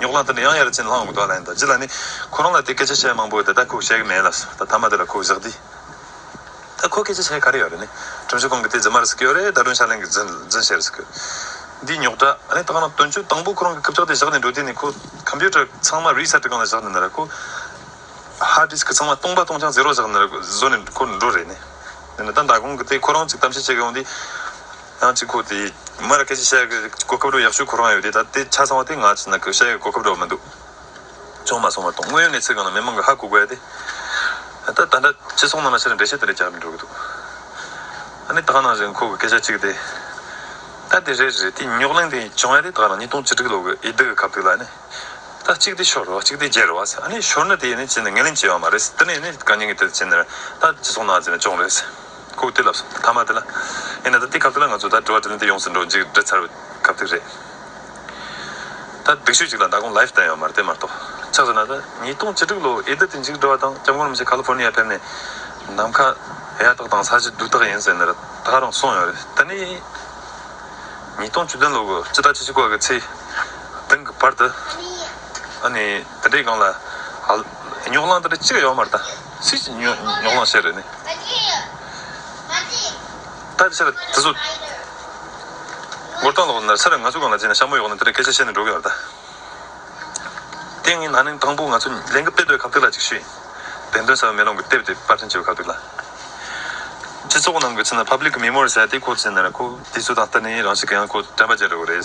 ཉོག་ལང་དེ་འདྲ་ཡང་ཡར་བྱིན་ལྷང་ངུ་དོག་ལན་དང་བྱི་ལ་ནི། ཁོ་རང་ལ་དེ་སྐད་ཆ་བཤད་མང་པོ་དེ་ད་ཁུག་བཤད་གི་མེད་ལ་སོ་ད་ཐ་མ་དེ་ལ་ཁུག་བཞག་དུས། ད་ཁོ་སྐད་ཆ་བཤད་ག་རེ་ཡོད་རེད་ནི། ཁྲིམས་ཞིབ་ཁང་གི་དེ་རྫི་མ་རེད་ཟེར་གི་ཡོད་རེད་ད་དྲུང་ཤར་གླིང་གི་རྫི་རྫི་བཤད་རེད་ཟེར་གི། འདི་ཉོག་དྲ་ནི་ད་ག་ནང་དོན་གཅོད་དང་པོ་ཁོ་རང་གི་སྐབས་ཀྱག་དེ་བཞག་ནས་འགྲོ་དུས་ནི་ཁོ Computer ཚང་མ Reset གི་སྒང་ལ་བཞག་ནས་ནི་ར་ཁོ Hard Disk ཚང་མ་སྟོང་པ་སྟོང་ཆང Zero བཞག་ནི་ར་བཟོ་ནས་ཁོ་འགྲོ་རེད་ནི། འདི་ནི་ད་མདའ་ཁང་གི་དེ་ཁོ་རང་གཅིག་གཏམ་བཤད་བྱེད་གི་ཡོང་དུས། ཐང་གཅིག་ཁོ་དེས་མར་སྐད་ཆ་བཤད་གི་གོ་སྐབས་འགྲོ་ཡག་ཤོས་ཁོ་རང་ཡོད་དེ་ད་དེ་ཆ་ཚང་བ་དེ་ང་ཚོ་ནང་ཁུལ་བཤད་གི་གོ་སྐབས་འགྲོ་མི་འདུག་ཅུང་མ་སོང་བ་དང་དངོས་ཡོད་གནས་ཚུལ་གང་ལ་མི་མང་གི་ཧ་གོ་དགོས་ཏེ། ད་ད་འདྲ་ཅི་སོང་ནང་ལ་ཕྱིར་འགྲེལ་བཤད་དེ་རེད་རྒྱག་མི་འགྲོ་གི་འདུག་ཨ་ནི་དག་ནང་བཞིན་ཁོ་གི་སྐད་ཆ་གཅིག་དེ། ད་དེ་རེད་རེད་དེ་རྙོག་གླེང་དེ་བྱུང་ཡ་དེ་དག་ནང་གཉིས་སྟོང་ཅི་དྲུག་ལོ་གི་ཡི་དི་གི་ཁབ་དེ་ལ་ནི། ད་གཅིག་དེ་ཤོར་རོ་གཅིག་དེ་བརྗེ་རོ་ཨ་ནི་ཤོར་ནི་དེ་ནི་ཅི་ནི་ངན་ལེན་བྱས་ཡོད་མ་རེད་དེ་ནི་ནི་གང་ཉན་གི་དེ་ཅི་ནི་རེད་ད་ཅི་སོང་ནང་བྱས་ན་ཅོང་རེད། ཁུག་ཏི་ལབ་སོང་ཐ་མ་དེ་ལ། ཡིན་ན་ད་དེ་ཁབ་ཏུ་ལ་ང་ཚོ་ད་དྲི་བ་དྲི་ལན་དེ་ཡོངས་སུ་འགྲོ་འཇིགས་འདྲི་ཚར་བའི་ཁབ་ཏི་རེད། ད་སྒྲིག་ཤོས་གཅིག་ལ་མདའ་དགོང live བསྟན་ཡོད་མ་རེད་དེ་མ་གཏོགས། ཆགས་སོང་ན་ད་ཉིས་སྟོང་བཅུ་དྲུག་ལོ་ཨེ་ད་དེ་འཇིགས་འགྲོ་བ་དང་སྐྱབས་མགོན་རིན་པོ་ཆེ California ཕེབས་ནས་ནམ་མཁའ་ཡག་ཐག་དང་ས་གཞི་སྡུག་ཐག་ཡིན་ཟེར་ནས་ར་ཐག་རང་སོང་ཡོད་རེད་ད་ནི། ཉིས་སྟོང་བཅུ་བདུན་ལོ་དགུ་སྤྱི་ཟླ་ཆིག་ཆིག་སྐོར་གྱི་ཚེས་བདུན་གྱི་བར་དུ། ཨ་ནི་དེ་འདྲའི་སྒང་ལ། ཉོག་གླང་དེ་འདྲ་གཅིག་ཡོད་མ་རེད་ད། ཚིག་ཅིག་ཉོན་མྱོང་ལ་ཟེར། ལྟ་ཕྱིར་དེ་ཚོ། མགུར་སྟངས་ལོག་ན་ཚར་ང་ཚོ་གང་ལ་བརྗེད་ན་ཤ་མོ་ཡོག་ན་དེ་འདྲ་སྐད་ཆ་བཤད་ནས་འགྲོ་གི་རེད་ད། དེ་ངའི་ན་ནིང་དང་པོ་ང་ཚོ་ལས་འགུལ་སྤེལ་འདོད་གབ་སྟེགས་ལ་ཅིག་ཤོས་ཡིན། བདེན་དོན་ཟེར་བ་མེ་ལོང་གི་དེབ་དེ་དཔར་འཕྲིན་བྱེད་པའི་གབ་སྟེགས་ལ། སྤྱི་ཚོགས་ནང་གི་ཚིག་ན་ཕབ་ལིག་གི་མི་མོར་ཟེར་དེ་ཁོ་ཚོས་ན་ཁོ་དེ་ཚོ་དང་བསྟུན་ནས་རང་ཤི་གི་ཡང་ཁོ་དྲན་པ་བརྒྱལ་འགྲོ་གི་རེད།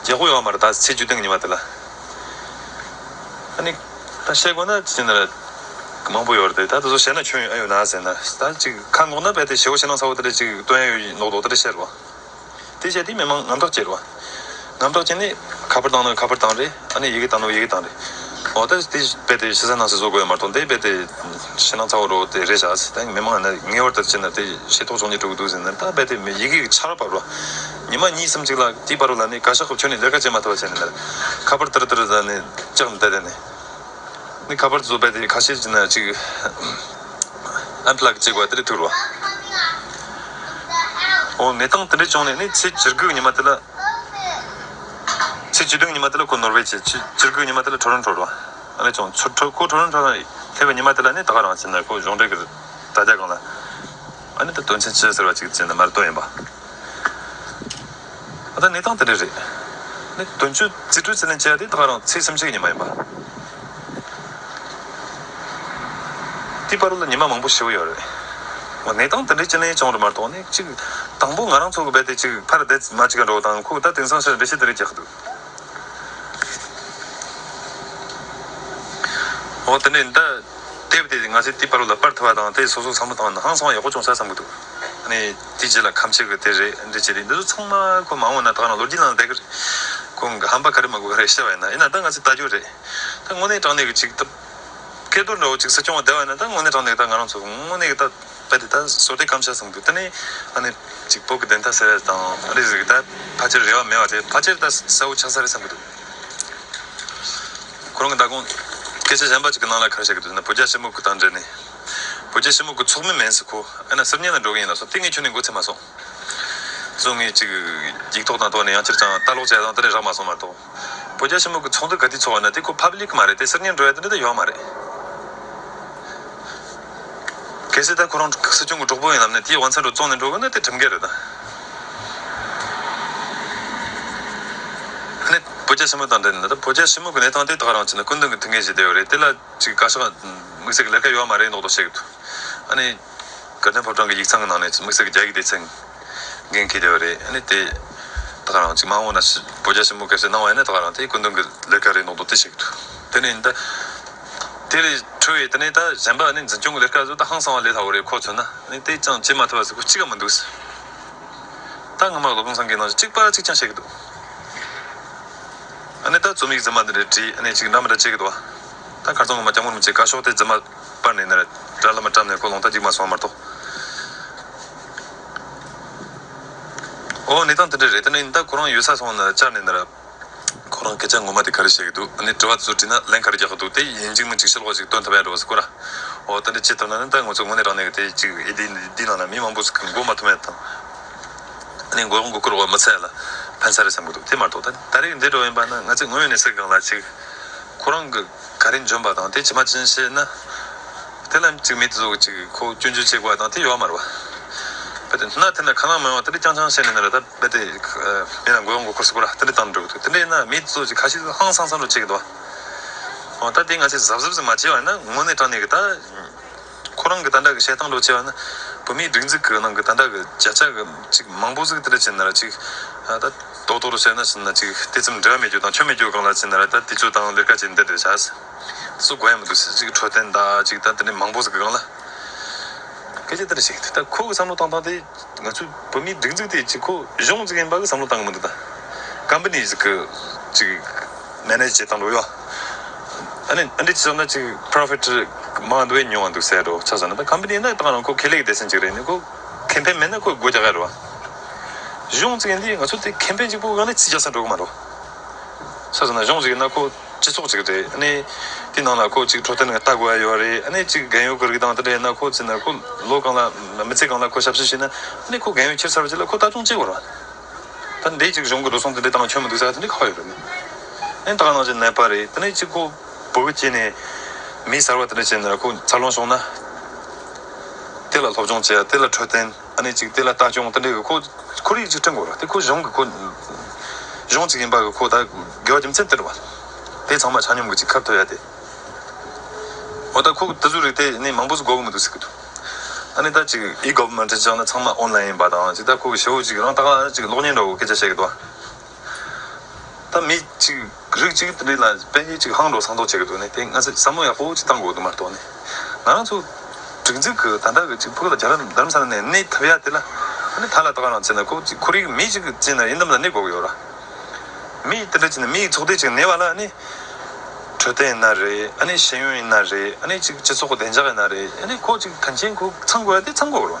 རྗེས་ཁོ་ཡོང་བ་མ་རེད་ད་ཚེས་བཅུ་སྟེང་ཉིན་པ་དེ་ལ་ཨ་ནི་ད་བཤད་དགོས་ན་ཅི་ནས་རེད་མང་པོ་ཡོད་རེད་ད་དེ་ཚོ་བཤད་ན་ཁྱོད་ཨེ་ཡོད་ན་ཟེར་ན་ད་ཅིག་ཁ་འགོག་ན་རྦད་དེ་ཞེ་བོ་ཞེ་ནང་ཚ་བོ་དེ་རེད་ཅིག་སྟོན་ཨེ་ཡོད་ནོག་ལྡོག་དེ་རེད་བཤད་རོགས་དེ་བཤད་དེ་མི་མང་ངམ་ཐོག་བསྐྱེལ་རོགས་ངམ་ཐོག་བསྐྱེལ་ནས་ཁ་པར་བཏང་ན་ཁ་པར་བཏང་རེད་ཨ་ནི་ཡི་གེ་བཏང་ན་ཡི་གེ་བཏང་རེད་འོ་ད་དེ་རྦད་དེ་ཤི་ས་ནང་ས་བཟོ་དགོས་ཡོད་མ་གཏོགས་དེ་རྦད་དེ་ཞེ་ནང་ཚ་བོ་རོགས་དེ་རེད་བཞག་ད་མི་མང་ངེས་བར་དེར་བསྐྱེལ་ན་དེ་ཤེས་རྟོགས་བྱུང་ཉེ་དྲུག་གི་འདུག་ཟེར་ན་ད་རྦད་དེ་མི་ཡི་གེ་གི་ཆར་བབས་རོགས། ཉི་མ་གཉིས་སམ་གཅིག་ལ་གྱི་བར་བུ་ལ་ནི་ག་ཤ་ཁོབ་ཁྱོད་ནི་ལེར་ཁ་ཅན་མ་ཐུ་བ་བྱས་ནས་མེར་ཁ་པར་ཏར་ཏར་ད་ནི་ལྕགས་ནི་ད་དེ་ནི་ནི་ཁ་པར་བཟོ་བས་དེ་ཁ་ཤས་ཅིག་ན་གཅིག Unplug ཅིག་བ་དེ་ལས་ཐུར་བ་འོ་ངེད་དང་དེ་འདྲ་བྱུང་ནས་ནི་ཚེས་བཅིར་དགུག་ཉི་མ་དེ་ལ་ཚེས་བཅུ་དྲུག་ཉི་མ་དེ་ལ་ཁོ་ནོར་བས་ཚེས་བཅིར་དགུག་ཉི་མ་དེ་ལ་ཁྲོ་རོན་ཁྲོར་བ་ཨ་ལས་བྱུང་ཁོ་ཁྲོ་རོན་ཁྲོ་ལྷས་བ་ཉི་མ་དེ་ལ་ནི་ད་ག་རང་བྱས་ན་ཁོ་གཞུང་འབྲེལ་གིར་ད་རྒྱ་གང་ལ། ཨ་ནི་ད་དོན་ཆེན་བྱེད་ཟེར་བ་ཅིག་ཅེས་ནི་མར་དོན་ཡིན་པ། ཨ་ད་གནས་སྟངས་དེ་འདྲ་རེད། ནི་དོན་གཅོད་རྩིས་སྤྲོད་ཚད་ལེན་བྱེད་ཡ་དེ་ད་ག་རང་ཚིག་སེམས་ཤེས་ཀྱི་ཉི་མ་ཡིན་པ། དེའི་པར་ལ་ཉི་མ་མང་པོ་ཞེ་བོ་ཡོད་རེད། འོ་གནས་སྟངས་དེ་འདྲའི་སྤྱི་ལེན་བྱུང་རེད་མར་དོག་ནི་གཅིག། དང་པོ་ང་རང་ཚོ་གི་བས་དེ་གཅིག་ཕར་བདེ་མ་ཅིག་ག་འགྲོ་བ་དང་ཁོ་གི་ད་དེང་སང་ཤར་བེ་ཤེས་དེ་རེད་རྒྱག་གི་འདུག། འོ་དེ་ནས་འདི། དེབ་དེ་ང་ཚོས་དེའི་པར་ལ་དཔར་ཐུབ་པ་དང་དེ་སོ་སོ་ཚང་མ་བཏང་ནའང་གསང་བ་ཡག་པོ་བྱུང་ས་བསམ་གྱི་འདུག་ནས། དེའི་རྗེས་ལ་ཁམས་ཕྱེད་ཀྱི་དེ་རེད་འདི་བྱས་རེད་འདི་ཚོ་ཚང་མ་ཁོ་མ་འོངས་ན་ད་ག་ནང་ལོ་རྒྱུས་ནང་ལ་བསྡད་ཀྱི་རེད། ཁོ་འགའ་ཧམ་པ་ག་རེ་མ་དགོས་ག་རེ་བཤད་པ་ཡིན་ན་ཡིན་ན་ད་ང་ཚོས་བལྟ་རྒྱུ་རེད། ད་དངོས་གནས་དྲང་གནས་ཀྱི་ཅིག་ད། སྐལ་རྡོར་འདྲ་བོ་ཅིག་སྲིད་སྐྱོང་བ་བསྡད་པ་ཡིན་ན་ད་དངོས་གནས་དྲང་གནས་ཀྱི་ད་ང་རང་ཚོ་དངོས་གནས་ཀྱི་ད། པ་དེ་དག་སོ་ཏའི་སྐམ་ཆ་བཟུང་འདུག་ད་ནི་ཨ་ནེ་གཅིག་བོད་ཀྱི་བདེན་མཐའ་ཟེར་བ་དེ་དང་ཨ་རིའི་རིགས་དག་ཕ་སྤྱིར་རེ་བ་མེད་བ་དེ་ཕ་སྤྱིར་ད་ས་བོ་ཆགས་ས་རེད་བསམ་གྱི་འདུག་ཁོ་རང་གི་ཟླ་དགོང་སྐད་ཆ་གཞན་པ་གཅིག་གི་ནང་ལ་ཁར་བཤད་ཀྱི་འདུག་ན་བོད་རྒྱ་ཕྱི་མུག་གི་དང་འབྲེལ་ནས་བོད་རྒྱ་ཕྱི་མུག་གི་ཚོགས་མི་མེན་སི་ཁོ་ཨེ་ན་སིར་ཉན་ལ་འགྲོ་གི་ཡིན་ལ་སོ་ཏའི་ངས་ཁྱོད་ནས་མགོ་ཚིག་མ་སོང་བཟོ་ངས་ཅིག་འགྱིག་ཐོག་དང་ཐོག་ནས་ཡང་ཁྱེར་ཅང་ལྟ་ཀློག་བྱས་ཙང་ད་ནས་རག་མ་སོང་མ་གཏོགས། བོད་རྒྱ་ཆེན་མོ་གི་ཚོགས་འདུ་ག་དུས་ཚོགས་བ་ན་དེ་ཁོ་ཕབ་ལིག་མ་རེད་དེ་སིར་ཉན་འགྲོ་ཡ་དེ་འདྲ་དེ་ཡོད་མ་རེད། གལ་སྲིད་ད་ཁོ་རང་སྲིད་སྐྱོང་གི་གྲོགས་པོ་ཡིན་ལབ་ནས་དེའི་དབང་ཚད་འགྲོ་བཙོང་ནས་འགྲོ་དགོས་ན་དེ་གྲིམ་འགལ་རེད་ད། ནས་བོད་རྒྱ་ཆེན་མོ་དང་འབྲེལ་ནས་ད་བོད་རྒྱ་ཆེན་མོ་གི་གནས་སྟངས་དེ་དག་རང་ཅི་ན་སྐུ་མདུན་གི་ཐུགས་འགན་བཞེས་བསྡད་ཡོད་རེད་དེ་ལ་ཅིག་བཀའ་ཤག་དམིགས་བསལ་གྱི་ལས་ཀ་ཡོད་མ་རེད་མདོག་མདོག་བཤད་གི་འདུག་ཨ་ནི། སྐལ་ལྡན་ཕོ་བྲང་གི་ཡིག་ཚང་གི་ནང་ནས་དམིགས་བསལ་གྱི་རྒྱ་ཡིག་དེ་ཚིག་འགན་འཁེལ་བསྡད་པ་རེད་ཨ་ནི་དེ། ད་ག་རང་གཅིག་མ་འོངས་ན་བོད་རྒྱ་ཞི་མོལ་གལ་སྲིད་གནང་བ་ཡིན་ན་ད་ག་རང་དེ་སྐུ་མདུན་གྱི་ལས་ཀ་རེད་གནང་དོ་དེ་བྱེད་གི་འདུག་དེ་ནས་ཡིན་ད། དེ་ལས་འཕྲོས་བའི་དེ་ནས་ད་གཞན་པ་ཨ་ནི་འཛིན་སྐྱོང་གི་ལས་ཀ་ཟུར་ད་ཧང་སང་བ་ལས་སླ་བོ་རེད་ཁོ་མཚོན་ན་ཨ་ནི་དེ་ཅང་བྱེད་མ་ཐུབ་པ་ཟེར་གོ་གཅིག་ག་མི་འདུག་ཟེར། ད་སྔོན་མ་ལོ་གང་སང་གི་ནང་བཞིན་གཅིག་པ་གཅིག་ཀྱང་བྱེད་གི་འདུག་ཨ་ནི་ད་རྩོམ་ཡིག་རྫུན་མ་འདི་འདྲ་བྲིས་ཨ་ནི་གཅིག་འདྲ་མི་འདྲ་བྱེད་གི་འདུག་ཨ། ད་གར་ཚང་ངོ་མ་སྐྱབས་མགོན་རིན་པོ་ཆེ་བཀའ་ཤོག་དེ་རྫུན་མ། པར་ནས་ནར། དགྲ་བླ་མ་བཀྲམ་ནས་ཀོ་ལོང་རྟ་འཇིགས་མ་སོང་མར་ཐོགས། འོ་ནི་དང་དེ་འདྲ་རེད་ད་ནི་ད་ཁོ་རང་ཡོད་ས་སོང་ནར་བཅར་ནས་ནར། ཁོ་རང་སྐད་ཆ་ངོ་མ་དེ་ག་རེ་བཤད་གི་འདུག་ནི་དྲི་བ་དེ་ཚོ་དྲིས་ན་ལན་ག་རེ་རྒྱག་གི་འདུག་དེ་ཡིན་འཇིགས་མོ་འཇིགས་ཤེལ་སྒོ་ཞིག་བཏོན་ཐུབ་ཡག་འགྲོ་བ་ཟེར་ཀོ་ར། འོ་ད་ནི་ཅི་ཐུབ་ན་ནི་ད་ངོ་ཚོ་ངོ་ནི་རང་ནས་གི་དེ་ཅིག་ཨེ་འདི་འདི་ནང་ན་མི་མང་པོ་ཟིག་གི་འགོ་མ་ཐུབ་མེད་དང། ནི་མགོ་མགོ་སྐོར་བ་མི་ཚད་ལ་ཕན་ས་རེད་བསམ་གི་འདུག་དེ་མར་ཐོགས་ད་ནི་ད་རེས་ཀི་འདི་འགྲོ་ཡིན་པ་ན་ང་ཚོས་དངོས་ཡོད་ནས་ཟེར་གང་ལ་ཅིག་ཁོ་རང་གི། ག་རེ་འཇོམས་པ་དང་དེ་ཇི་མ་ཅིན་ཤེས་ན། དེ་ལ་གཅིག་མེད་དུ་གཟུགས་གཅིག་གིས་ཁོ་སྐྱོན་བརྗོད་བྱེད་དགོས་པ་དང་དེ་ཡོད་མ་རེད་བ། བེ་དེ་ན་དེ་འདྲ་གང་ལ་མི་ཡོང་བ་དེ་འདྲ་རྐྱང་རྐྱང་བཤད་ནས་ནི་ད་བེ་དེ་མི་ལ་མགོ་ཡོང་མགོ་འཁོར་སོགས་པོ་ར་དེ་འདྲ་བཏང་འགྲོ་གི་འདུག་དེ་འདྲ་ཡིན་ན་མེད་དུ་གཟུགས་གཅིག་ཁ་ཤས་ཧང་སང་སང་འགྲོ་བྱེད་ཀྱི་འདུག་བ། འོ་ད་དེ་ང་ཚོས་གཟབ་གཟབ་ཟིག་མ་བྱས་བ་ཡིན་ན་ངོ་ནས་དྲང་ནས་གི་ད། ཁོ་རང་གི་དང་འདྲ་གི་བཤད་སྟངས་ལོ་ཅེས་པ་ནི་བོད་མིའི་སྒྲིག་འཛུགས་ཀྱི་ནང་གི་དང་འདྲ་གི་བརྒྱ་ཆ་གི་ཅིག་མང་པོ་གཟིགས་དེ་ལ་ཅི་ན་ར་ཅིག་ད་རྡོག་རྡོག་རུ་བཤད་ན་ཅི་ན་ཅིག་དེ་ཙམ་འབྲེལ་བ་མེད་རྒྱུ་དང་ཆོ་མེད་རྒྱུ་གང་ལ་ཅི་ན་ར་ད་དེ་ཚོའི་དང་ལེར་ཁ་ཅིག་འདི་འདྲ་བྱ་སོ་དགོས་ཡ་མི་འདུག་སེ་ཅིག་འཕྲོད་བསྟེན་ད་ཅིག་ད་དེ་འདྲ་མང་པོ་གཟིགས་གི་གང་ལ་སྐད་ཆ་དེ་འདྲ་བཤད་གི་འདུག་ད་ཁོ་གི་བསམ་བློ་བཏང་སྟངས་དེ། ང་ཚོའི་བོད་མིའི་སྒྲིག་འཛུགས་དེ་གཅིག་གོ་གཞོང་བརྩེགས་ཡིན་པ་གི་བསམ་བློ་བཏང་གི་མི་འདུག་ད། Companies གི་གཅིག Manage བྱེད་སྟངས་འགྲོ་ཡོད། ཨ་ནི་ཨ་འདྲས་ཅི་བསམ་ན་གཅིག Profit མང་དུ་བས་ཉུང་བ་འདུག་ཟེར་རོ་ཆ་བཟོ་ན་ད Company ནི་བཏང་རང་ཁོ་ཁེ་ལས་ཀི་སྡེ་ཚན་གཅིག་རེད་ནི་ཁོ Campaign མེད་ན་ཁོ་སྒོ་རྒྱག་ག་རེ་བ། གཞོང་བརྩེགས་འདི་ང་ཚོ་དེ Campaign གཅིག་པོ་ག་ནི་ཚིག་རྒྱག་ས་འགྲོ་གི་མ་འགྲོ། ཆ་བཟོ་ན་གཞོང་བརྩེགས་ཡིན་ན་ཁོ། སྤྱི་ཚོགས་ཅིག་རེད། དེའི་ནང་ལ་ཁོ་གཅིག་འཕྲོད་བསྟེན་ལྟ་དགོས་ཡོད་རེད། གཅིག་རྒན་ཡོལ་གྱི་རིགས་དང་དེ་འདྲ་ཡིན་ན་ཁོ་བཙལ་ན་ཁོ་ལོ་གང་ལ་མི་ཚེ་གང་ལ་ཁོ་ཞབས་ཞུ་བྱས་ན། ཁོ་རྒན་ཡོལ་ཁྱེར་ཚར་བ་བྱས་ལ་ཁོ་ལྟ་སྐྱོང་བྱེད་དགོས་ར། ད་འདི་གཅིག་གཞུང་གི་འགྲོ་སོང་དེ་འདྲའི་སྟངས་ཁྱོན་མི་འདུག་ས་དེ་འདྲའི་ཁག་ཡོད་རེད། ཨེ་ད་ག་ནང་བྱས་ནད་པ་རེད། དེ་ནས་གཅིག་ཁོ་བོད་སྐྱེས་ནས་མི་གསར་བ་དེ་འདྲ་བྱས་ན་ཁོ་འཚར་ལོངས་བྱུང་ན། དེ་ལ་སློབ་སྦྱོང་བྱས་དེ་ལ་འཕྲོད་བསྟེན། ཨ་ནེ་གཅིག་དེ་ལ་ལྟ་སྐྱོང་དེ་འདྲའི་འོས་ཁོ་ཁོར་ཡུག་ཅིག་བསྐྲུན་དགོས་རོགས་དེ་ཁོ་གཞུང་གི་ཁོ་གཞུང་གཅིག་ཡིན་པ་འོས་ཁོ་ད་དགེ་བ་རྒྱུ་མཚན་དེ་རེད་བ། དེ་ཚང་མ་ཆ་སྙོམས་གི་ཅིག་ཁབ་ཐོ་ཡ་དེ། འོ་ད་ཁོ་དེ་ཟུ་རིག་དེ་ནས་མང་པོ་ཟུ་གོ་གི་མི་འདུག་ཟེར་གི་འདུག་ཨ་ནེ་ད་ཅིག་ཨི་གོ་མེན་ཏྲི་བཅག་ན་ཚང་མ་ཨོན་ལ་ཡིན་པ་དང་ཅིག་ད་ཁོ་གི་ཞེ་བོ་ཅིག་རང་ད་ག་ཅིག་གློག་བརྙན་འདྲ་བོ་སྐད་ཆ་བཤད་གི་འདུག་བ། ད་མི་གཅིག་རིགས་གཅིག་གི་འདི་ལ་དཔལ་ཡོན་ཅིག་ཧང་འགྲོ་སང་འགྲོ་བྱེད་ཀྱི་འདུག་ནི་དེ་སྔ་ཚོད་བསམ་བློ་ཡག་པོ་ཅིག་བཏང་དགོས་འདུག་མ་གཏོགས་ནི། ང་རང་ཚོ། སྒྲིག་འཛུགས་ཀྱི་ད་ལྟ་གི་ཅིག་ཕུགས་ལ་རྒྱ་རམ་རྡ་རམ་ས་ལ་ནས་གནས་ཐབས་ཡག་དེ་ལ། ནི་ད་ལ་ད་ག་རང་བྱེད་ན་ཁོ་གཅིག་ཁོར་ཡུག་གི་མི་གཅིག་གི་བྱེད་ན་ཡིན་དམ་ལ་ནི་དགོས་ཀྱི་ཡོད་ར། མི་ཡིས་དེ་འདྲ་བྱེད་ན་མི་ཡིས་ཚོགས་སྡེ་གཅིག་གནས་པ་ལ་ནི། འཕྲོད་བསྟེན་ཡིན་ན་རེད་ཨ་ནི་ཤེས་ཡོན་ཡིན་ན་རེད་ཨ་ནི་ཅིག་སྤྱི་ཚོགས་ཀྱི་བདེ་འཇགས་ཡིན་ན་རེད་ཨ་ནི་ཁོ་གཅིག་དོན་ཆེན་ཁོ་ཚང་དགོས་ཡ་དེ་ཚང་དགོས་ཀྱི་རོ།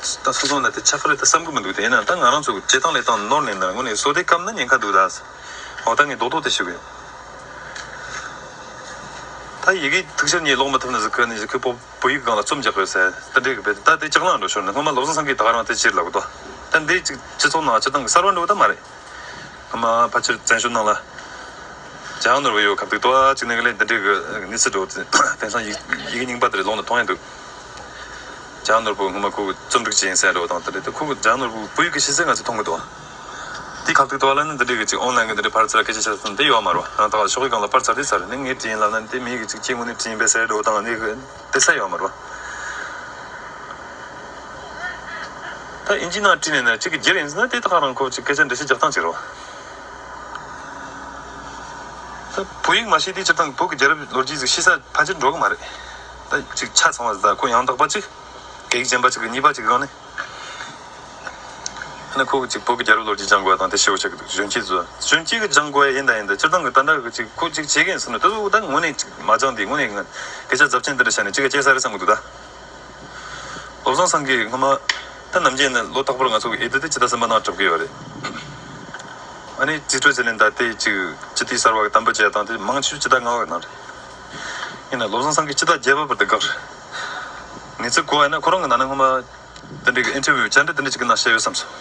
ད་སོ་སོ་ནས་དེ་ཆ་ཕ་རེད་ད་བསམ་གི་མི་འདུག་དེ་ཡིན་ན་ད་ང་རང་ཚོ་བྱེད་སྟངས་ལས་སྟངས་ནོར་ནས་ནར་ངོ་ནས་སོ་དེ་སྐབས་ན་ཉེན་ཁ་འདུག་ད་འོ་ད་ངས་རྡོག་རྡོག་དེ་ཞུ་གི་ཡོད་ད་ཡི་གེ་ཐུགས་ཞར་གཉིས་ཀློག་མ་ཐུབ་ན་གཟིགས་ཁུལ་ནས་གཞིས་ཁུལ་བོད་ཡིག་སྒང་ལ་རྩོམ་རྒྱག་གི་ཡོད་ཟེར་ད་འབྲེལ་གི་བེད་ད་དེ་ལྕགས་ལངས་འགྲོ་ཞོར་ནས་སྔོན་མ་བློ་བཟང་སེང་གེས་ད་ང་རང་དེ་ཕྱིར་ལ་གོ་ཐོ་ད་འདི་གཅིག་སྤྱི་ཚོགས་ནང་སྤྱི་སྟངས་གསར་བ་འགྲོ་གི་ད་མ་རེད་སྔོན་མ་ཕ་ཕྱིར་བཙན་བྱོལ་ནང་ལ་རྒྱ་ནོར་བའི་ཡོད་གབ་འདུག་ད་གཅིག་ནས་ག་ལེར་འདི་འདྲའི་གི་གནས་ཚུལ་འགྲོ་དེ་དེང་སང་ཡི་གེ་རྙིང་པ་དེ་རེ་ཀློག་ན་མཐོང་ཡ་འདུག། ལྗང་ནོར་བུ་སྔོན་མ་ཁུག་རྩོམ་སྒྲིག་བྱེད་ཡིན་ཟེར་ཡོད་འདུག་ད་དེ་ཁུག་ལྗང་ནོར་བུ་བུ་ཡིག་གི་ཤེས་ཚད་ང་ཚོས་མཐོང་གི་འདུག་དེའི་ཁ་ཐུག་ཏུ་བ་ལན་ནི་འདི་འདྲའི་གི་ཅིག་ཨོང་ལན་གི་འདི་འདྲའི་ཕར་ཚུར་ལ་སྐད་ཆ་བཤད་སྲོལ་དེ་ཡོད་མ་རུང་ཡང་དག་ལ་ཕྱོགས་གི་གང་ལ་ཕར་ཚར་དེ་ཚར་ནི་ངའི་དྲི་ཡིན་ལབ་ན་དེ་མི་ཡིག་གི་ཅིག་སྐྱེ་དངོས་ནི་དྲི་ཡིན་པའི་ཟེར་འདུག་དང་ནི་དེ་ཚད་ཡོད་མ་རུང། ད་དབྱིན་ཇིའི་ནང་བྲིས་ནས་ནི་ཅིག་གི་རྒྱུ་རེད་ཟེར་ན་དེ་དག་རང་ཁོ་ཅིག་སྐད་ཆ་འདྲི་ཤེས་རྒྱག་སྟངས་ཅིག་རེད། ད་བུ་ཡིག་མ་ཤེས་དུས་སྤྱིར་བཏང་གི་བོད་ཀྱི་རྒྱལ་རབས་ལོ་རྒྱུས་ཅིག་ཤེས་ས་ཕལ་ཆེར་འགྲོ་གི་མ་རེད། གཅིག་ཆ་ཚང་བ་ཟླ་ཁོག་ཡང་དག་པ་གཅིག་གེགས་རྗེན་པ་གཅིག་གི་གཉིས་པ་གཅིག་རང་ནི། ནི་ཁོ་གཅིག་བོད་ཀྱི་རྒྱལ་རབས་ལོ་རྒྱུས་སྦྱང་དགོས་པ་དང་དེ་ཤེས་བོ་ཆགས་ཀྱི་འདུག་གཞོན་སྐྱེས་ཚོས་གཞོན་སྐྱེས་ཀྱི་སྦྱང་དགོས་ཡ་ཡིན་ད་ཡིན་ད་སྤྱིར་བཏང་གི་ད་འདྲ་གི་གཅིག་ཁོ་གཅིག་བྱེད་གི་ཡིན་བསམ་ན་དེ་ཚོ་ད་ངོ་ནས་གཅིག་མ་སྦྱངས་དེ་ངོ་ནས་ངན་སྐད་ཆ་རྫབ་ཆེན་དེ་འདྲ་བཤད་ནས་གཅིག་ག་སྐྱེས་ས་རེད་བསམ་གྱི་འདུག་ད། བློ་བཟང་སང་གིས་སྔོན་མ། ད་ནམ་རྒྱུན་ནི་ལོ་རྟག་པར་ང་ཚོ་གི་ཨེ་ཏི་ཏི་སྤྱི་ད་སེམས་པ་ནང་གྲབ་ཀྱི་ཡོད་རེད། ཨ་ནི་རྩིས་སྤྲོད་བྱེད་ལེན་ད་དེ་གཅིག་སྤྱི་ཏི་གསར་བ་གི་དམ་པ་བྱས་དང་དེ་མང་ཆུ་སྤྱི་ད་ང་བ་གི་ནང་རེད། ཡིན་ན་ལོ་བཟང་ཚང་གིས་ཅི་ལྟར་རྒྱལ་བབས་པར་དེ་དགག་རེད། ངེད་ཚོའི་གོ་བ་ཡིན་ན་ཁོ་རང་གི་ནང་ན་སྔོན་མ་དེ་འདྲའི་གི་ཨིན་ཐེ་ཝིའུ་བཅར་འདྲི་དེ་འདྲ་ཅིག་གི་ནང་བཤད་ཡོད་བསམ་སོང།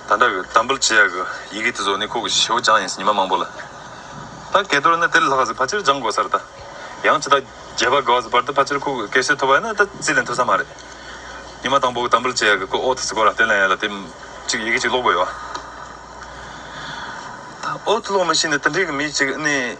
ད་འདྲ་གི་དམ་འབུལ་བྱེད་ཡག་གི་ཡི་གེ་དེ་ཚོ་ནི་ཁོ་གི་ཞེའུ་ཅང་ཡིན་སྲིད་ཉི་མ་མང་པོ་ལ། ད་སྐད་དོར་ན་དེ་ལ་ལྷག་གཟིགས་ཕ་ཆེར་སྦྱང་དགོས་ས་རེད་ད། ཡང་ཅི་ལྟར་རྒྱལ་བབས་དགག་བཟིགས་བར་དུ་ཕ་ཆེར་ཁོ་གི་སྐད་ཤེས་ཐུབ་པ་ཡིན་ན་ད་རྩིས་ལེན་ཐུབ་ས་མ་རེད། ཉི་མ་དང་པོ་གི་དམ་འབུལ་བྱེད་ཡག་གི་ཁོ་ཨོ་ཐི་སི་གོ་ར་ཏེ་ལན་ཡ་ལ་དེ་ཅིག་ཡི་གེ་ཅིག་ཀློག་དགོས་ཡོད། ད་ཨོ་ཐི་ཀློག་མི་ཤེས་ནི་དེ་འདྲའི་གི་མི་ཅིག་ནི།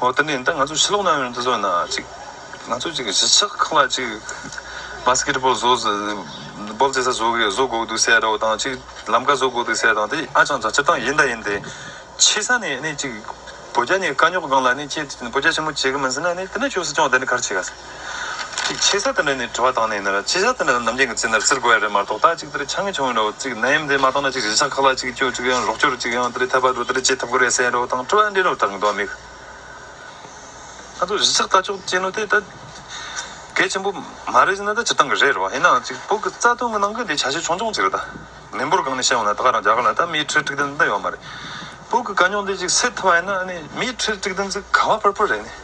ཨོ་དེ་ནས་ད་ང་ཚོ་ཕྱི་ལོག་ན་ཡོང་དུས་ཚོགས་ན་ཅིག་ང་ཚོ་ཅིག་གཞིས་ཆགས་ཁག་ལ་ཅིག Basketball བཟོ Ball རྩེ་ས་བཟོ་གི་བཟོ་དགོས་འདུག་ཟེར་རོགས་དང་ཅིག་ལམ་ཀ་བཟོ་དགོས་འདུག་ཟེར་དང་དེ་ཨ་ཅང་བྱ་ཆ་ཏང་ཡིན་ད་ཡིན་ཏེ། ཆེ་ས་ནས་ནི་ཅིག་བོད་རྒྱ་ནི་དཀའ་རྙོག་སྒང་ལ་ནི་ཁྱེད་བོད་རྒྱ་ཆེན་མོ་བྱེད་གི་མིན་ཟེར་ན་ནི་དེ་ནི་ཆོས་སྲིད་སྐྱོང་བདེ་ནི་གར་བྱེད་ག། ཅིག། ཆེ་ས་དེ་འདྲ་ནས་དྲི་བ་བཏང་ནས་ཡིན་ན། ཆེ་ས་དེ་འདྲ་ནས་ནམ་རྒྱུན་གྱི་ཚིག་འདྲ་བཙིར་དགོས་ཡ་རེད་མ་གཏོགས་ད་ཅིག་དེ་འདྲ་ཆགས་ངེས་བྱུང་ཡིན་རོགས་ཅིག་ན་ཡིན་དེ་མ་གཏོགས་ན་ཅིག་རིན་ཆང་ཁག་ལ་ཅིག་སྐྱོ་ཅིག་ཡང་རོགས་སྐྱོ་རུ་ཅིག་ཡང་དེ་འདྲའི་ཐད་པ་རུ་དེ་འདྲ་བྱེད་ཐུབ་ཀི་རེད་ཟེར་རོགས་དང་དྲི་བ་འདྲེན་རོགས་དང་གདོན་མི་ང་ཚོ་གཞིས་ཆགས་ལྟ་ཕྱོགས་ཅན་ནོ་དེ་ད་གལ་ཆེན་པོ་མ་རེད་ཟེར་ན་ད་སྤྱིར་བཏང་གི་རེད་རོགས་ཡིན་ནའང་ཅིག་བོད་ཀྱི་རྩ་དོན་གྱི་ནང་གི་འདི་བྱ་བྱེད་ཆུང་ཆུང་ཅིག་རེད་ད། མི་འབོར་སྒང་ནས་བཤད་འོང་ན་ད་ག་རང་རྒྱ་གར་ལ་ད་མིའི་ཁྲིར་དཀྲིག་དོན་འདི་ཡོད་མ་རེད། བོད་ཀྱི་དཀའ་རྙོག་འདི་ཅིག་སེལ་ཐུབ་པ་ཡིན་ན་ནི་མིའི་ཁྲིར་དཀྲིག་དོན་ཅིག་ག་བ་ཕུར་ཕུར་རེད་ནི།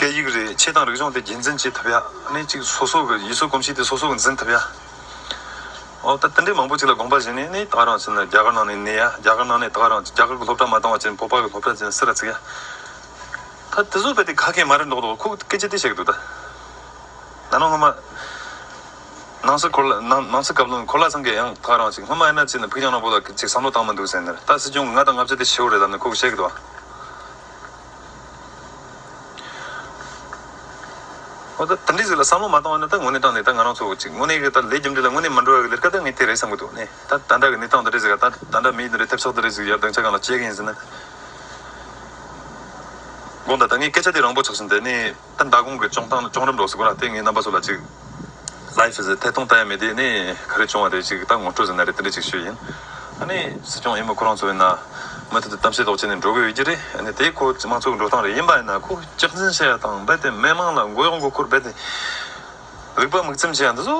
སྐད་ཡིག་རིག་བྱེད་དང་རིག་གཞུང་དེ་རྒྱུན་འཛིན་བྱེད་ཐུབ་ཡ་ནི་གཅིག་སོ་སོ་གི་ཡུལ་སྲོལ་གོམས་གཤིས་དེ་སོ་སོ་གི་འཛིན་ཐུབ་ཡ། འོ་ད་དེ་འདྲའི་མང་པོ་ཅིག་ལ་དགོངས་པ་བཞེས་ནས་ནི་ད་རང་བྱིན་ལ་རྒྱ་གར་ནང་ནས་གནས་ཡ་རྒྱ་གར་ནང་ནས་ད་རང་རྒྱ་གར་གི་སློབ་གྲྭ་མ་བཏང་བ་ཅན་བོད་པ་གི་སློབ་གྲྭ་ཅན་སི་ར་བརྩིགས་ཡ། ད་དེ་ཚོ་བལྟས་ཏེ་ག་གེ་མ་རེད་འདོག་འདོག་ཁོ་སྐད་ཆ་དེ་བཤད་གི་འདུག་ད། ད་ནང་སྔོན་མ། ནང་སི་འཁོར་ལ་ནང་ནང་སི་སྐབས་ལོ་འཁོར་ལ་ཚང་གི་ཡང་ད་རང་བྱིན་སྔོན་མ་ཨེ་ན་ཅིག་ནི་ཕུགས་རྒྱང་ནང་པོ་ལ་གཅིག་བསམ་བློ་བཏང་མི་འདུག་ཟེར་ནས་ད་སྲིད་སྐྱོང་གི་ལྔ་དང་ལྔ་བརྒྱ་དེ་ཕྱི་བོ་རེད་ལབ་ནས་ཁོ་གི་བཤད་གི་འདུག་ཨ། ད་ལྟ་འདི་ཟིག་ལ་བསམ་བློ་མ་བཏང་བ་ནི་ད་ངོ་གནས་སྟངས་འདི་ལྟར་ང་རང་ཚོ་ཚིག་ངོ་གནས་ཀྱི་ད་ལས་རྒྱུ་འབྲས་ལ་ངོ་གནས་མ་འགྲོ་བ་གི་ལེར་ཀ་ད་ངས་དེ་རེད་བསམ་གྱི་འདུག་ནས་ད་ད་ལྟ་གི་གནས་སྟངས་འདི་འདྲ་ཟིག་ལ་ད་ད་ལྟ་མིའི་འདི་འདྲའི་ཐེབས་ཚོགས་འདི་རེད་ཟིག་ཡར་བརྡུང་བྱ་གང་ལ་བྱེད་གི་ཡིན་ཟེར་ན། དགོངས་དག་ད་ངས་སྐད་ཆ་དེ་རང་བོ་ཆགས་ཤིང་དེ་ནས། ད་མདའ་དགོང་གི་ཅོང་ཐང་ལ་ཅོང་རིམ་འགྲོ་ཟེར་གོ་ན་དེ་ངའི་རྣམ་པ་ཚོ་ལ་ཅིག Life is a ཐད་གཏོང་ལྟ་ཡ་མེད་དེ་ནས་ག་རེ་བྱུང་བ་རེད་ཅིག་ད་ངོ་སྤྲོད་ཟེར་ན་རེད་དེ་འདྲ་ཅིག་ཤོད་ཡིན་ཨ་ནི་སྲིད་སྐྱོང་ཡིན་མོད་ཁོ་རང་ཚོ་ཡིན་ན་མུ་མཐུད་དུ་གཏམ་བཤད་དོག་བྱས་ནས་འགྲོ་དགོས་ཡོད་ཀྱི་རེད་ཨ་ནི་དེ་ཁོ་དམངས་གཙོ་གི་འགྲོ་སྟངས་རེད་ཡིན་པ་ཡིན་ན་ཁོ་སྐྱག་འཛིན་བྱས་ཡ་དང་རྦད་དེ་མི་དམངས་ལ་མགོ་གཡོག་མགོ་འཁོར་རྦད་དེ་རིག་པ་མིག་ཚིམ་བྱས་ཡ་འདི་ཚོ་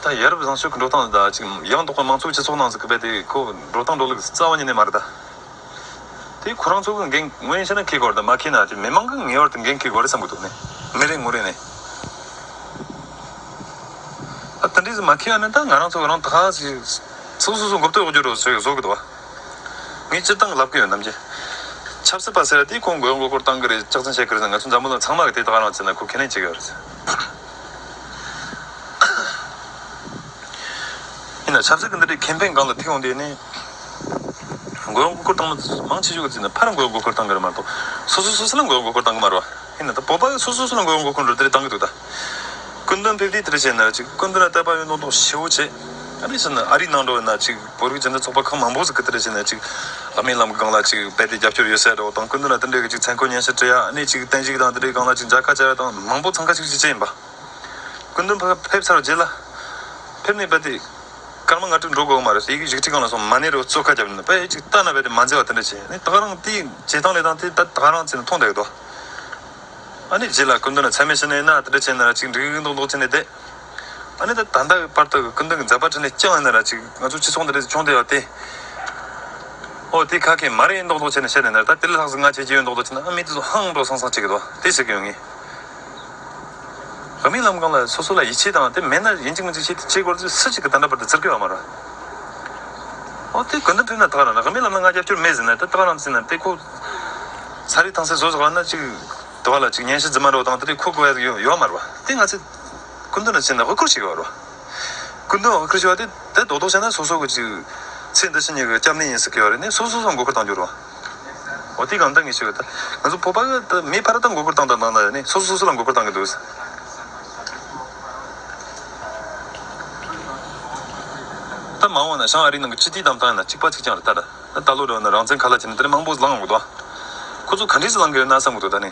ད་ཡ་རབས་བཟང་ཤོས་ཀྱི་འགྲོ་སྟངས་རེད་ད་ཅིག་ཡང་དོག་པའི་དམངས་གཙོ་གི་སྤྱི་ཚོགས་ནང་ཟིག་གི་རྦད་དེ་ཁོ་འགྲོ་སྟངས་འགྲོ་ལུགས་རྩ་བ་ཉིད་ནས་མ་རེད་ད། དེ་ཁོ་རང་ཚོ་གི་འགན་ངོས་ཡིན་ཤེས་ན་ཁེ་དགོར་དང་མ་ཁེ་ན་དེ་མི་མང་གི་ངེས་བར་དུ་འགན་ཁེ་དགོས་རེད་བསམ་གི་འདུག་ནི་མི་རེ་ངོ་རེ་ནས་ད་དེ་འདྲས་སུ་མ་ཁེ་བ་ནི་ད་ང་རང་ཚོ་གི་རང་ཐག་ཞིག་ཚུགས་སོ་སོ་འགོ་བསྟོད་རྒྱུ་རུ་བཟོས་གི་འདུག་བ་ངས་སྤྱིར་བཏང་གི་ལབ་གི་ཡོད་ནམ་ཅི། ཆབ་སྲིད་པ་ཟེར་བ་དེ་ཁོང་དགོས་མགོ་སྐོར་བཏང་གི་རེད་ལྕག་ཚན་བཤད་གི་རེད་ཟེར་ང་ཚོ་འཛམ་བུ་ལ་ཚང་མ་གི་དེ་དག་རང་བརྩད་ན་ཁོ་ཁས་ལེན་བྱེད་གི་ཡོད་རེད། ཡིན་ན་ཆབ་སྲིད་ཀྱི་འདི་འདྲའི་ཁེམ་ཕེན་སྒང་ལ་ཐིག་ཡོང་དེ་ནི། འགོའི་མགོ་སྐོར་བཏང་མ། མང་ཆེ་ཤོས་ཀྱི་རྩིས་ནི་ཕར་འགོའི་མགོ་སྐོར་བཏང་གི་རེད་མ་གཏོགས། སོ་སོ་སོ་སོ་ལ་འགོའི་མགོ་སྐོར་བཏང་གི་མ་རེད། ཧིན་ནི་ད་བོད་པ་སོ་སོ་སོ་ལ་འགོའི་མགོ་སྐོར་འགྲོ་དེ་རེད་བཏང་གི་འདུག་ད། སྐུ་མདུན་ཕེབས་དུས་དེ་རེད་བྱས་ན་ཅིག་སྐུ་མདུན་ལ་ལྟ་བ་ཡོད་མདོག་མདོག་ཞེ་བོ་བྱས། ཨ་རིས་སུ་ནི་ཨ་རིའི་ནང་འགྲོ་བས་ན་ཅིག་བོད་རིགས་སྦྱིན་བདག་ཚོགས་པ་ཁག་མང་པོ་སུ་གི་དེ་རེད་བྱས་ན་ཅིག་ཨ་མའི་ལམ་གི་སྒང་ལ་ཅིག་རྦད་དེ་རྒྱབ་སྐྱོར་ཡོད་སའི་འདྲ་བོ་དང་སྐུ་མདུན་ལ་དེ་འདྲའི་གི་ཅིག་མཚན་འཁོད་སྙན་ཞིག་བྲིས་ཡ་ཨ་ནི་ཅིག་བསྟན་བཤིག་དང་དེ་འདྲའི་སྒང་ལ་ཅིག་མཇལ་ཁ་བྱ་བ་དང་མང་པོ་འཚང་ཁ་ཤིག་ཤིག་བྱས་ཡིན་པ། སྐུ་མདུན་ཕེབས་ཚར་བ་རྗེས་ལ། ཕེབས་ནས་རྦད་དེ། སྐར་མ་ལྔ་དྲུག་འགྲོ་དགོས་ཀྱི་མ་རེད་སོ་ཡི་གེ་བཞི་གཅིག་གང་ལ་སོང་མ་ནི་རེད་བོ་ཙོ་ཁ་རྒྱབ་ནི་པ་ཡིག་གཅིག་ལྟ་ན་བས་དེ་མ་མཛེས་བ་དེ་འདྲ་བྱས་ནི་ད་ག་རང་དེ་བྱས་སྟངས་ལས་སྟངས་དེ་ད་ག་རང་བྱས་ནི་མཐོང་བསྡད་གི་དོ་ཨ་ནི་བྱས་ལ་སྐུ་མདུན་ལ་ཚད་མེད་བྱས་ནི་ན་དེ་འདྲ་བྱས་ནི་ར་ཅིག་འགྲིག་རིག་རིག་མདོག་མདོག་བྱས་ནི་བསྡད་ཨ་ནི་ད་ད་ལྟ་གི་པར་ཐག་གི་སྐུ་མདུན་གི་མཛད་པ་ཁྲི་ནས་བསྐྱངས་ནི་ར་ཅིག་ང་ཚོ་ཁྱི་ཚོགས་འདི་རེད་ཆུང་བསྡད་བ་དེ་ཨོ་དེ་ཁ་ཁས་མ་རེད་མདོག་མདོག་བྱས་ནི་བཤད་ནི་ན་ར་ད་དེ་ལ་ལྷག་ཟིག་ང་བྱས་ཀྱི་ཡོད་མདོག་མདོག་བྱས་ནི་ཨ་མི་དེ་ཚོ་ཧང་འགྲོ་སང་སང་བྱེད་ཀྱི་འདུག་དེ་བྱེད་ཀྱི་ཡོད་ངེས། རང་མིང་ལམ་གང་ལ་སོ་སོ་ལ་ཡིད་ཆེས་དང་དེ་མེད་ན་ཡིན་གཅིག་མིན་གཅིག་བྱེད་ཅེས་སྐོར་ཚོས་སུ་གཅིག་གི་དང་འདྲ་བར་དུ་བཙིར་དགོས་པ་མ་རེད། འོ་དེ་དགོས་འདུན་ཕེབས་ན་དག་རང་རང་མིང་ལམ་ན་ང་རྒྱབ་སྐྱོར་མེད་ཟེར་ན་དེ་དག་རང་བཙིར་ན་དེ་ཁོ། ཚ་རིག་ཐང་སེ་བཟོ་ཟོག་ལ་ན་གཅིག། དེ་བ་ལ་གཅིག་ཉན་ཤི་རྫི་མ་རོ་དང་དེ་རིགས་ཁོ་དགོས་ཡ་ཡོད་མ་རེད་བ་དེ་ང་ཚོས། སྐུ་མདུན་ལ་བྱིན་ན་དབུ་བསྐུར་བྱེད་དགོས་བ་རེད་བ། སྐུ་མདུན་དབུ་བསྐུར་བྱེད་བ་དེ་དེ་རྡོག་རྡོག་བྱས་ན་སོ་སོ་གི་གཅིག། ཚེ་འདི་ཕྱི་གཉིས་ཀྱི་སྐྱབས་གནས་ཡིན་ཟེར་གི་བ་རེད་ནས་སོ་སོ་སོ་མགོ་འཁོར་བཏང་རྒྱུར་བ། ཨོ་དེ་གང་དང་གི་ཞིག་ཨོ་ད། ང་ཚོ་བོད་པ་གི་མི་ཕ་ར་དང་མགོ་སྐོར་བཏང་དང་བཏང་དང་ནི་སོ་སོ་སོ་སོ་ལ་མགོ་སྐོར་བཏང་གི་འདུག། ད་མང་བ་ན་ཞང་ཨ་རིའི་ནང་གི་སྤྱི་ཏིའི་གཏམ་བཏང་ཡོད་ན་གཅིག་པ་གཅིག་ཀྱང་རེད་ད། ད་ལོ་རེ་བ་ན་རང་བཙན་ག་ལ་བྱེད་ན་དེ་ནི་མང་པོ་ལང་འགོ་འདུག་ཨ། ཁོ་ཚོ་ག་འདྲིས་སུ་ལང་གི་ཡོད་ན་བསམ་གི་འདུག་ད་ནི།